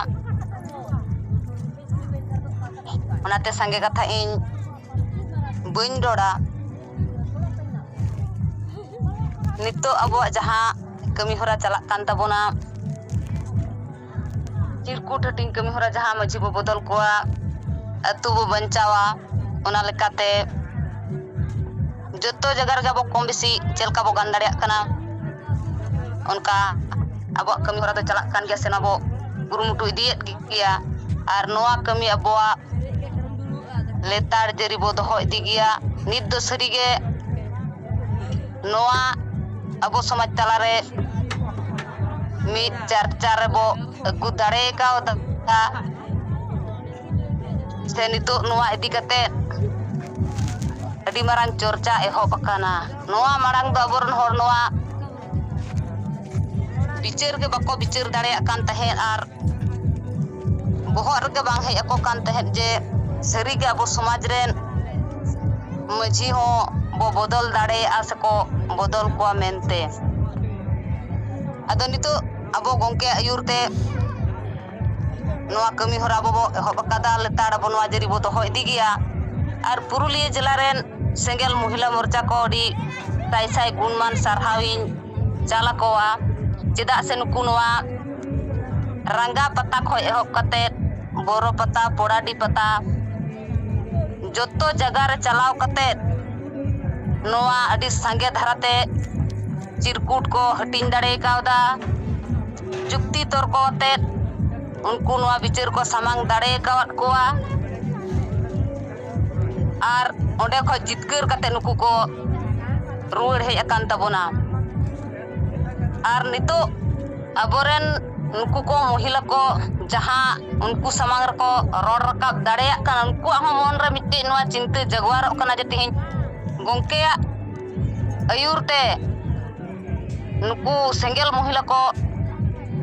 ᱚᱱᱟᱛᱮ ᱥᱟᱸᱜᱮ ᱠᱟᱛᱷᱟ ᱤᱧ ᱵᱟᱹᱧ ᱨᱚᱲᱟ ᱱᱤᱛᱚᱜ ᱟᱵᱚᱣᱟᱜ ᱡᱟᱦᱟᱸ ᱠᱟᱹᱢᱤ ᱦᱚᱨᱟ ᱪᱟᱞᱟᱜ ᱠᱟᱱ ᱛᱟᱵᱚᱱᱟ ᱪᱤᱨᱠᱩᱴ ᱦᱟᱹᱴᱤᱧ ᱠᱟᱹᱢᱤ ᱦᱚᱨᱟ ᱡᱟᱦᱟᱸ ᱢᱟᱹᱡᱷᱤ ᱵᱚ ᱵᱚᱫᱚᱞ ᱠᱚᱣᱟ ᱟᱹᱛᱩ ᱵᱚ ᱵᱟᱧᱪᱟᱣᱟ ᱚᱱᱟ ᱞᱮᱠᱟᱛᱮ ᱡᱚᱛᱚ ᱡᱟᱭᱜᱟ ᱨᱮᱜᱮ ᱟᱵᱚ ᱠᱚᱢ ᱵᱮᱥᱤ ᱪᱮᱫ ᱞᱮᱠᱟ ᱵᱚ ᱜᱟᱱ ᱫᱟᱲᱮᱭᱟᱜ ᱠᱟᱱᱟ ᱚᱱᱠᱟ ᱟᱵᱚᱣᱟᱜ ᱠᱟᱹᱢᱤ ᱦᱚᱨᱟ ᱫᱚ ᱪᱟᱞᱟᱜ ᱠᱟᱱ ᱜᱮᱭᱟ ᱥᱮ ᱚᱱᱟ ᱵᱚ ᱠᱩᱨᱩᱢᱩᱴᱩ ᱤᱫᱤᱭᱮᱫ ᱜᱮᱭᱟ ᱟᱨ ᱱᱚᱣᱟ ᱠᱟᱹᱢᱤ ᱟᱵᱚᱣᱟᱜ ᱞᱮᱛᱟᱲ ᱡᱟᱹᱨᱤ ᱵᱚ ᱫᱚᱦᱚ ᱤᱫᱤ ᱜᱮᱭᱟ ᱱᱤᱛ ᱫᱚ ᱥᱟᱹᱨᱤᱜᱮ ᱱᱚᱣᱟ ᱟᱵᱚ ᱥᱚᱢᱟᱡᱽ ᱛᱟᱞᱟᱨᱮ ᱢᱤᱫ ᱪᱟᱨᱪᱟ ᱨᱮᱵᱚ ᱟᱹᱜᱩ ᱫᱟᱲᱮ ᱠᱟᱣᱫᱟ ᱥᱮ ᱱᱤᱛᱚᱜ ᱱᱚᱣᱟ ᱤᱫᱤ ᱠᱟᱛᱮ ᱟᱹᱰᱤ ᱢᱟᱨᱟᱝ ᱪᱚᱨᱪᱟ ᱮᱦᱚᱵ ᱟᱠᱟᱱᱟ ᱱᱚᱣᱟ ᱢᱟᱲᱟᱝ ᱫᱚ ᱟᱵᱚᱨᱮᱱ ᱦᱚᱲ ᱱᱚᱣᱟ ᱵᱤᱪᱟᱹᱨ ᱜᱮ ᱵᱟᱠᱚ ᱵᱤᱪᱟᱹᱨ ᱫᱟᱲᱮᱭᱟᱜ ᱠᱟᱱ ᱛᱟᱦᱮᱸᱫ ᱟᱨ ᱵᱚᱦᱚᱜ ᱨᱮᱜᱮ ᱵᱟᱝ ᱦᱮᱡ ᱟᱠᱚ ᱠᱟᱱ ᱛᱟᱦᱮᱸᱫ ᱡᱮ ᱥᱟᱹᱨᱤᱜᱮ ᱟᱵᱚ ᱥᱚᱢᱟᱡᱽ ᱨᱮᱱ ᱢᱟᱹᱡᱷᱤ ᱦᱚᱸ ᱵᱚ ᱵᱚᱫᱚᱞ ᱫᱟᱲᱮᱭᱟᱜᱼᱟ ᱥᱮᱠᱚ ᱵᱚᱫᱚᱞ ᱠᱚᱣᱟ ᱢᱮᱱᱛᱮ ᱟᱫᱚ ᱱᱤᱛᱚᱜ ᱟᱵᱚ ᱜᱚᱢᱠᱮᱭᱟᱜ ᱟᱹᱭᱩᱨ ᱛᱮ ᱱᱚᱣᱟ ᱠᱟᱹᱢᱤ ᱦᱚᱨᱟ ᱟᱵᱚ ᱵᱚ ᱮᱦᱚᱵ ᱟᱠᱟᱫᱟ ᱞᱮᱛᱟᱲ ᱟᱵᱚ ᱱᱚᱣᱟ ᱡᱟᱹᱨᱤ ᱵᱚ ᱫᱚᱦᱚ ᱤᱫᱤ ᱜᱮᱭᱟ ᱟᱨ ᱯᱩᱨᱩᱞᱤᱭᱟᱹ ᱡᱮᱞᱟ ᱨᱮᱱ ᱥᱮᱸᱜᱮᱞ ᱢᱚᱦᱤᱞᱟ ᱢᱳᱨᱪᱟ ᱠᱚ ᱟᱹᱰᱤ ᱥᱟᱭ ᱥᱟᱭ ᱜᱩᱱᱢᱟᱱ ᱥᱟᱨᱦᱟᱣ ᱤᱧ ᱪᱟᱞ ᱟᱠᱚᱣᱟ ᱪᱮᱫᱟᱜ ᱥᱮ ᱱᱩᱠᱩ ᱱᱚᱣᱟ ᱨᱟᱸᱜᱟ ᱯᱟᱛᱟ ᱠᱷᱚᱱ ᱮᱦᱚᱵ ᱠᱟᱛᱮᱫ ᱵᱚᱨᱚ ᱯᱟᱛᱟ ᱯᱚᱲᱟᱰᱤ ᱯᱟᱛᱟ ᱡᱚᱛᱚ ᱡᱟᱭᱜᱟ ᱨᱮ ᱪᱟᱞᱟᱣ ᱠᱟᱛᱮᱫ ᱱᱚᱣᱟ ᱟᱹᱰᱤ ᱥᱟᱸᱜᱮ ᱫᱷᱟᱨᱟᱛᱮ ᱪᱤᱨᱠᱩᱴ ᱠᱚ ᱦᱟᱹᱴᱤᱧ ᱫᱟᱲᱮ ᱠᱟᱣᱫᱟ ᱡᱩᱠᱛᱤ ᱛᱚᱨᱠᱚ ᱟᱛᱮ ᱩᱱᱠᱩ ᱱᱚᱣᱟ ᱵᱤᱪᱟᱹᱨ ᱠᱚ ᱥᱟᱢᱟᱝ ᱫᱟᱲᱮ ᱟᱠᱟᱫ ᱠᱚᱣᱟ ᱟᱨ ᱚᱸᱰᱮ ᱠᱷᱚᱱ ᱡᱤᱛᱠᱟᱹᱨ ᱠᱟᱛᱮ ᱱᱩᱠᱩ ᱠᱚ ᱨᱩᱣᱟᱹᱲ ᱦᱮᱡ ᱟᱠᱟᱱ ᱛᱟᱵᱚᱱᱟ ᱟᱨ ᱱᱤᱛᱚᱜ ᱟᱵᱚᱨᱮᱱ ᱱᱩᱠᱩ ᱠᱚ ᱢᱚᱦᱤᱞᱟ ᱠᱚ ᱡᱟᱦᱟᱸ ᱩᱱᱠᱩ ᱥᱟᱢᱟᱝ ᱨᱮᱠᱚ ᱨᱚᱲ ᱨᱟᱠᱟᱵ ᱫᱟᱲᱮᱭᱟᱜ ᱠᱟᱱᱟ ᱩᱱᱠᱩᱣᱟᱜ ᱦᱚᱸ ᱢᱚᱱᱨᱮ ᱢᱤᱫᱴᱮᱡ ᱱᱚᱣᱟ ᱪᱤᱱᱛᱟᱹ ᱡᱟᱜᱽᱣᱟᱨᱚᱜ ᱠᱟᱱᱟ ᱡᱮ ᱛᱮᱦᱮᱧ ᱜᱚᱢᱠᱮᱭᱟᱜ ᱟᱹᱭᱩᱨ ᱛᱮ ᱱᱩᱠᱩ ᱥᱮᱸᱜᱮᱞ ᱢᱚᱦᱤᱞᱟ ᱠᱚ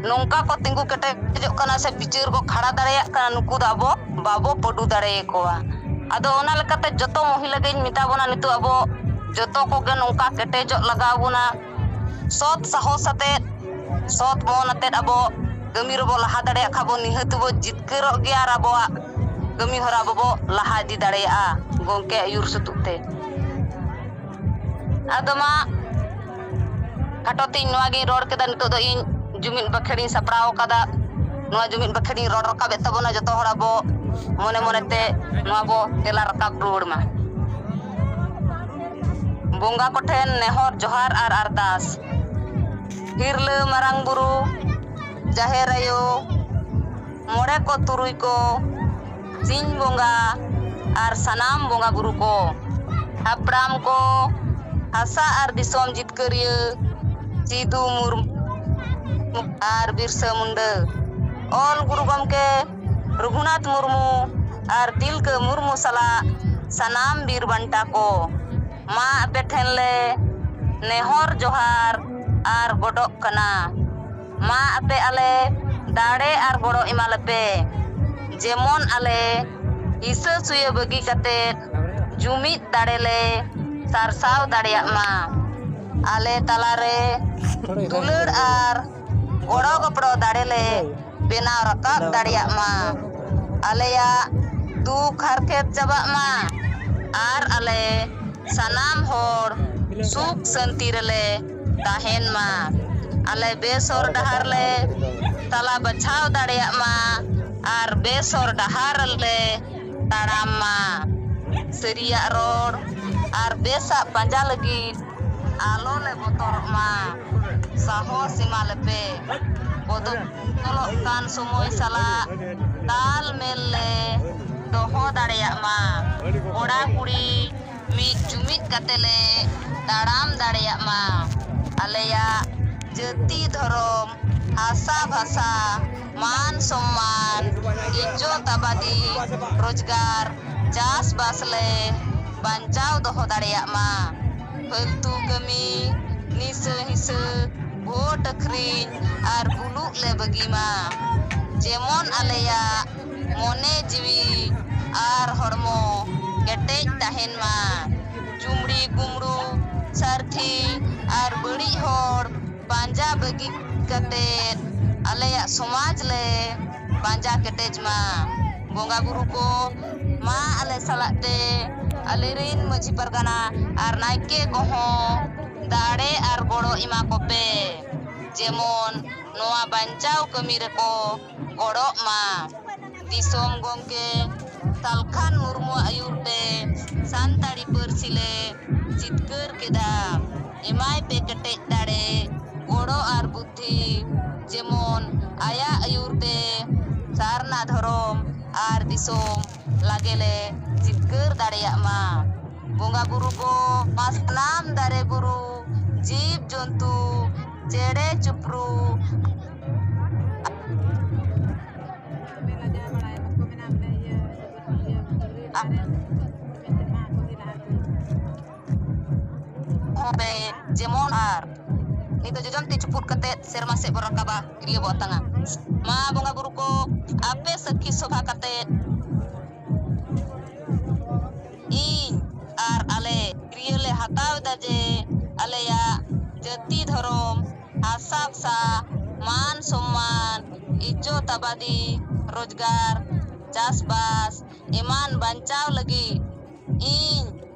ᱱᱚᱝᱠᱟ ᱠᱚ ᱛᱤᱸᱜᱩ ᱠᱮᱴᱮᱡᱚᱜ ᱠᱟᱱᱟ ᱥᱮ ᱵᱤᱪᱟᱹᱨ ᱠᱚ ᱠᱷᱟᱲᱟ ᱫᱟᱲᱮᱭᱟᱜ ᱠᱟᱱᱟ ᱱᱩᱠᱩ ᱫᱚ ᱟᱵᱚ ᱵᱟᱵᱚ ᱯᱟᱹᱰᱩ ᱫᱟᱲᱮᱭᱟᱠᱚᱣᱟ ᱟᱫᱚ ᱚᱱᱟ ᱞᱮᱠᱟᱛᱮ ᱡᱚᱛᱚ ᱢᱚᱦᱤᱞᱟ ᱜᱤᱧ ᱢᱮᱛᱟ ᱵᱚᱱᱟ ᱱᱤᱛᱚᱜ ᱟᱵᱚ ᱡᱚᱛᱚ ᱠᱚᱜᱮ ᱱᱚᱝᱠᱟ ᱠᱮᱴᱮᱡᱚᱜ ᱞᱟᱜᱟᱣ ᱵᱚᱱᱟ ᱥᱚᱛ ᱥᱟᱦᱚᱥ ᱟᱛᱮᱫ ᱥᱚᱛ ᱢᱚᱱ ᱟᱛᱮᱫ ᱟᱵᱚ ᱠᱟᱹᱢᱤ ᱨᱮᱵᱚ ᱞᱟᱦᱟ ᱫᱟᱲᱮᱭᱟᱜ ᱠᱷᱟᱱ ᱵᱚ ᱱᱤᱦᱟᱹᱛ ᱵᱚ ᱡᱤᱛᱠᱟᱹᱨᱚᱜ ᱜᱮᱭᱟ ᱟᱨ ᱟᱵᱚᱣᱟᱜ ᱠᱟᱹᱢᱤ ᱦᱚᱨᱟ ᱵᱚᱵᱚ ᱞᱟᱦᱟ ᱤᱫᱤ ᱫᱟᱲᱮᱭᱟᱜᱼᱟ ᱜᱚᱢᱠᱮ ᱟᱹᱭᱩᱨ ᱥᱟᱹᱛᱩᱜ ᱛᱮ ᱟᱫᱚ ᱢᱟ ᱠᱷᱟᱴᱚ ᱛᱤᱧ ᱱᱚᱣᱟ ᱜᱤᱧ ᱨᱚᱲ ᱠᱮᱫᱟ ᱱᱤᱛᱚᱜ ᱫᱚ ᱤᱧ ᱡᱩᱢᱤᱫ ᱵᱟᱠᱷᱮᱲᱤᱧ ᱥᱟᱯᱲᱟᱣ ᱟᱠᱟᱫᱟ ᱱᱚᱣᱟ ᱡᱩᱢᱤᱫ ᱵᱟᱠᱷᱮᱲᱤᱧ ᱨᱚᱲ ᱨᱟᱠᱟᱵᱮᱫ ᱛᱟᱵᱚᱱᱟ ᱡᱚᱛᱚ ᱦᱚᱲ ᱟᱵᱚ ᱢᱚᱱᱮ ᱢᱚᱱᱮᱛᱮ ᱱᱚᱣᱟ ᱵᱚ ᱛᱮᱞᱟ ᱨᱟᱠᱟᱵ ᱨᱩᱣᱟᱹᱲ ᱢᱟ ᱵᱚᱸᱜᱟ ᱠᱚᱴᱷᱮᱱ ᱱᱮᱦᱚᱨ ᱡᱚᱦᱟᱨ ᱟᱨ ᱟᱨᱫᱟᱥ ᱦᱤᱨᱞᱟᱹ ᱢᱟᱨᱟᱝ ᱵᱩᱨᱩ ᱡᱟᱦᱮᱨ ᱟᱭᱳ ᱢᱚᱬᱮ ᱠᱚ ᱛᱩᱨᱩᱭ ᱠᱚ ᱥᱤᱧ ᱵᱚᱸᱜᱟ ᱟᱨ ᱥᱟᱱᱟᱢ ᱵᱚᱸᱜᱟ ᱵᱩᱨᱩ ᱠᱚ ᱦᱟᱯᱲᱟᱢ ᱠᱚ ᱦᱟᱥᱟ ᱟᱨ ᱫᱤᱥᱚᱢ ᱡᱤᱛᱠᱟᱹᱨᱤᱭᱟᱹ ᱥᱤᱫᱩ ᱢᱩᱨᱢᱩ ᱟᱨ ᱵᱤᱨᱥᱟᱹ ᱢᱩᱱᱰᱟᱹ ᱚᱞ ᱜᱩᱨᱩ ᱜᱚᱢᱠᱮ ᱨᱚᱜᱷᱩᱱᱟᱛᱷ ᱢᱩᱨᱢᱩ ᱟᱨ ᱛᱤᱞᱠᱟᱹ ᱢᱩᱨᱢᱩ ᱥᱟᱞᱟᱜ ᱥᱟᱱᱟᱢ ᱵᱤᱨ ᱵᱟᱱᱴᱟ ᱠᱚ ᱢᱟ ᱟᱯᱮ ᱴᱷᱮᱱ ᱞᱮ ᱱᱮᱦᱚᱨ ᱡᱚᱦᱟᱨ ᱟᱨ ᱜᱚᱰᱚᱜ ᱠᱟᱱᱟ ᱢᱟ ᱟᱯᱮ ᱟᱞᱮ ᱫᱟᱲᱮ ᱟᱨ ᱜᱚᱲᱚ ᱮᱢᱟ ᱞᱮᱯᱮ ᱡᱮᱢᱚᱱ ᱟᱞᱮ ᱦᱤᱥᱟᱹ ᱥᱩᱭᱟᱹ ᱵᱟᱹᱜᱤ ᱠᱟᱛᱮ ᱡᱩᱢᱤᱫ ᱫᱟᱲᱮ ᱞᱮ ᱥᱟᱨᱥᱟᱣ ᱫᱟᱲᱮᱭᱟᱜ ᱢᱟ ᱟᱞᱮ ᱛᱟᱞᱟ ᱨᱮ ᱫᱩᱞᱟᱹᱲ ᱟᱨ ᱜᱚᱲᱚ ᱜᱚᱯᱚᱲᱚ ᱫᱟᱲᱮ ᱞᱮ ᱵᱮᱱᱟᱣ ᱨᱟᱠᱟᱵ ᱫᱟᱲᱮᱭᱟᱜ ᱢᱟ ᱟᱞᱮᱭᱟᱜ ᱫᱩᱠ ᱦᱟᱨᱠᱮᱛ ᱪᱟᱵᱟᱜ ᱢᱟ ᱟᱨ ᱟᱞᱮ ᱥᱟᱱᱟᱢ ᱦᱚᱲ ᱥᱩᱠ ᱥᱟᱹᱱᱛᱤ ᱨᱮᱞᱮ ᱛᱟᱦᱮᱱ ᱢᱟ ᱟᱞᱮ ᱵᱮᱥ ᱦᱚᱨ ᱰᱟᱦᱟᱨ ᱞᱮ ᱛᱟᱞᱟ ᱵᱟᱪᱷᱟᱣ ᱫᱟᱲᱮᱭᱟᱜ ᱢᱟ ᱟᱨ ᱵᱮᱥ ᱦᱚᱨ ᱰᱟᱦᱟᱨ ᱞᱮ ᱛᱟᱲᱟᱢ ᱢᱟ ᱥᱟᱹᱨᱤᱭᱟᱜ ᱨᱚᱲ ᱟᱨ ᱵᱮᱥᱟᱜ ᱯᱟᱸᱡᱟ ᱞᱟᱹᱜᱤᱫ ᱟᱞᱚ ᱞᱮ ᱵᱚᱛᱚᱨᱚᱜ ᱢᱟ ᱥᱟᱦᱚᱥ ᱮᱢᱟ ᱞᱮᱯᱮ ᱵᱚᱫᱚᱞᱚᱜ ᱠᱟᱱ ᱥᱚᱢᱚᱭ ᱥᱟᱞᱟᱜ ᱛᱟᱞ ᱢᱮᱞ ᱞᱮ ᱫᱚᱦᱚ ᱫᱟᱲᱮᱭᱟᱜ ᱢᱟ ᱠᱚᱲᱟ ᱠᱩᱲᱤ ᱢᱤᱫ ᱡᱩᱢᱤᱫ ᱠᱟᱛᱮ ᱞᱮ ᱛᱟᱲᱟᱢ ᱫᱟᱲᱮᱭᱟᱜ ᱢᱟ᱾ ᱟᱞᱮᱭᱟᱜ ᱡᱟᱹᱛᱤ ᱫᱷᱚᱨᱚᱢ, ᱦᱟᱥᱟ ᱵᱷᱟᱥᱟ, ᱢᱟᱱ ᱥᱚᱢᱢᱟᱱ, ᱤᱡᱡᱚᱛ ᱟᱵᱟᱫᱤ, ᱨᱚᱡᱽᱜᱟᱨ, ᱪᱟᱥ ᱵᱟᱥ ᱞᱮ ᱵᱟᱧᱪᱟᱣ ᱫᱚᱦᱚ ᱫᱟᱲᱮᱭᱟᱜ ᱢᱟ᱾ ᱯᱷᱟᱹᱞᱛᱩ ᱠᱟᱹᱢᱤ, ᱱᱤᱥᱟᱹ ᱦᱤᱸᱥᱟᱹ, ᱵᱷᱳᱴ ᱟᱹᱠᱷᱨᱤᱧ ᱟᱨ ᱵᱩᱞᱩᱜ ᱞᱮ ᱵᱟᱹᱜᱤ ᱢᱟ᱾ ᱡᱮᱢᱚᱱ ᱟᱞᱮᱭᱟᱜ᱾ ᱢᱚᱱᱮ ᱡᱤᱣᱤ ᱟᱨ ᱦᱚᱲᱢᱚ ᱠᱮᱴᱮᱡ ᱛᱟᱦᱮᱱ ᱢᱟ᱾ ᱪᱩᱢᱲᱤ ᱠᱩᱢᱲᱩ, ᱥᱟᱨᱛᱷᱤ ᱟᱨ ᱵᱟᱹᱲᱤᱡ ᱦᱚᱲ ᱯᱟᱸᱡᱟ ᱵᱟᱹᱜᱤ ᱠᱟᱛᱮ ᱟᱞᱮᱭᱟᱜ ᱥᱚᱢᱟᱡᱽ ᱞᱮ ᱯᱟᱸᱡᱟ ᱠᱮᱴᱮᱡ ᱢᱟ᱾ ᱵᱚᱸᱜᱟ ᱵᱩᱨᱩ ᱠᱚ ᱢᱟ ᱟᱞᱮ ᱥᱟᱞᱟᱜ ᱛᱮ ᱟᱞᱮ ᱨᱤᱱ ᱢᱟᱹᱡᱷᱤ ᱯᱟᱨᱜᱟᱱᱟ ᱟᱨ ᱱᱟᱭᱠᱮ ᱠᱚᱦᱚᱸ ᱫᱟᱲᱮ ᱟᱨ ᱜᱚᱲᱚ ᱮᱢᱟ ᱠᱚᱯᱮ ᱡᱮᱢᱚᱱ ᱱᱚᱣᱟ ᱵᱟᱧᱪᱟᱣ ᱠᱟᱹᱢᱤ ᱨᱮᱠᱚ ᱜᱚᱲᱚᱜ ᱢᱟ᱾ ᱫᱤᱥᱚᱢ ᱜᱚᱢᱠᱮ ᱛᱟᱞᱠᱷᱟᱱ ᱢᱩᱨᱢᱩᱣᱟᱜ ᱟᱹᱭᱩᱨ ᱛᱮ ᱥᱟᱱᱛᱟᱲᱤ ᱯᱟᱹᱨᱥᱤ ᱞᱮ ᱡᱤᱛᱠᱟᱹᱨ ᱠᱮᱫᱟ᱾ ᱮᱢᱟᱭ ᱯᱮ ᱠᱮᱴᱮᱡ ᱫᱟᱲᱮ, ᱜᱚᱲᱚ ᱟᱨ ᱵᱩᱫᱷᱤ᱾ ᱡᱮᱢᱚᱱ ᱟᱭᱟᱜ ᱟᱹᱭᱩᱨ ᱛᱮ ᱥᱟᱨᱱᱟ ᱫᱷᱚᱨᱚᱢ ᱟᱨ ᱫᱤᱥᱚᱢ ᱞᱟᱜᱮ ᱞᱮ ᱡᱤᱛᱠᱟᱹᱨ ᱫᱟᱲᱮᱭᱟᱜ ᱢᱟ᱾ ᱵᱚᱸᱜᱟ ᱵᱩᱨᱩ ᱠᱚ ᱢᱟ ᱥᱟᱱᱟᱢ ᱫᱟᱨᱮ ᱵᱩᱨᱩ, ᱡᱤᱵᱽ ᱡᱚᱱᱛᱩ, ᱪᱮᱬᱮ ᱪᱩᱯᱨᱩ᱾ ᱡᱮᱢᱚᱱ ᱟᱨ ᱱᱤᱛᱚᱜ ᱡᱚᱡᱚᱢ ᱛᱤ ᱪᱩᱯᱩᱫ ᱠᱟᱛᱮ ᱥᱮᱨᱢᱟ ᱥᱮᱫ ᱵᱚ ᱨᱟᱠᱟᱵᱟ ᱠᱤᱨᱤᱭᱟᱹ ᱵᱚ ᱟᱛᱟᱝᱟ ᱢᱟ ᱵᱚᱸᱜᱟ ᱵᱩᱨᱩ ᱠᱚ ᱟᱯᱮ ᱥᱟᱹᱠᱷᱤ ᱥᱚᱵᱷᱟ ᱠᱟᱛᱮ ᱤᱧ ᱟᱨ ᱟᱞᱮ ᱠᱤᱨᱤᱭᱟᱹ ᱞᱮ ᱦᱟᱛᱟᱣ ᱮᱫᱟ ᱡᱮ ᱟᱞᱮᱭᱟᱜ ᱡᱟᱹᱛᱤ ᱫᱷᱚᱨᱚᱢ ᱦᱟᱥᱟ ᱵᱷᱟᱥᱟ, ᱢᱟᱱ ᱥᱚᱢᱢᱟᱱ, ᱤᱡᱡᱚᱛ ᱟᱵᱟᱫᱤ, ᱨᱚᱡᱽᱜᱟᱨ, ᱪᱟᱥᱵᱟᱥ ᱮᱢᱟᱱ ᱵᱟᱧᱪᱟᱣ ᱞᱟᱹᱜᱤᱫ ᱤᱧ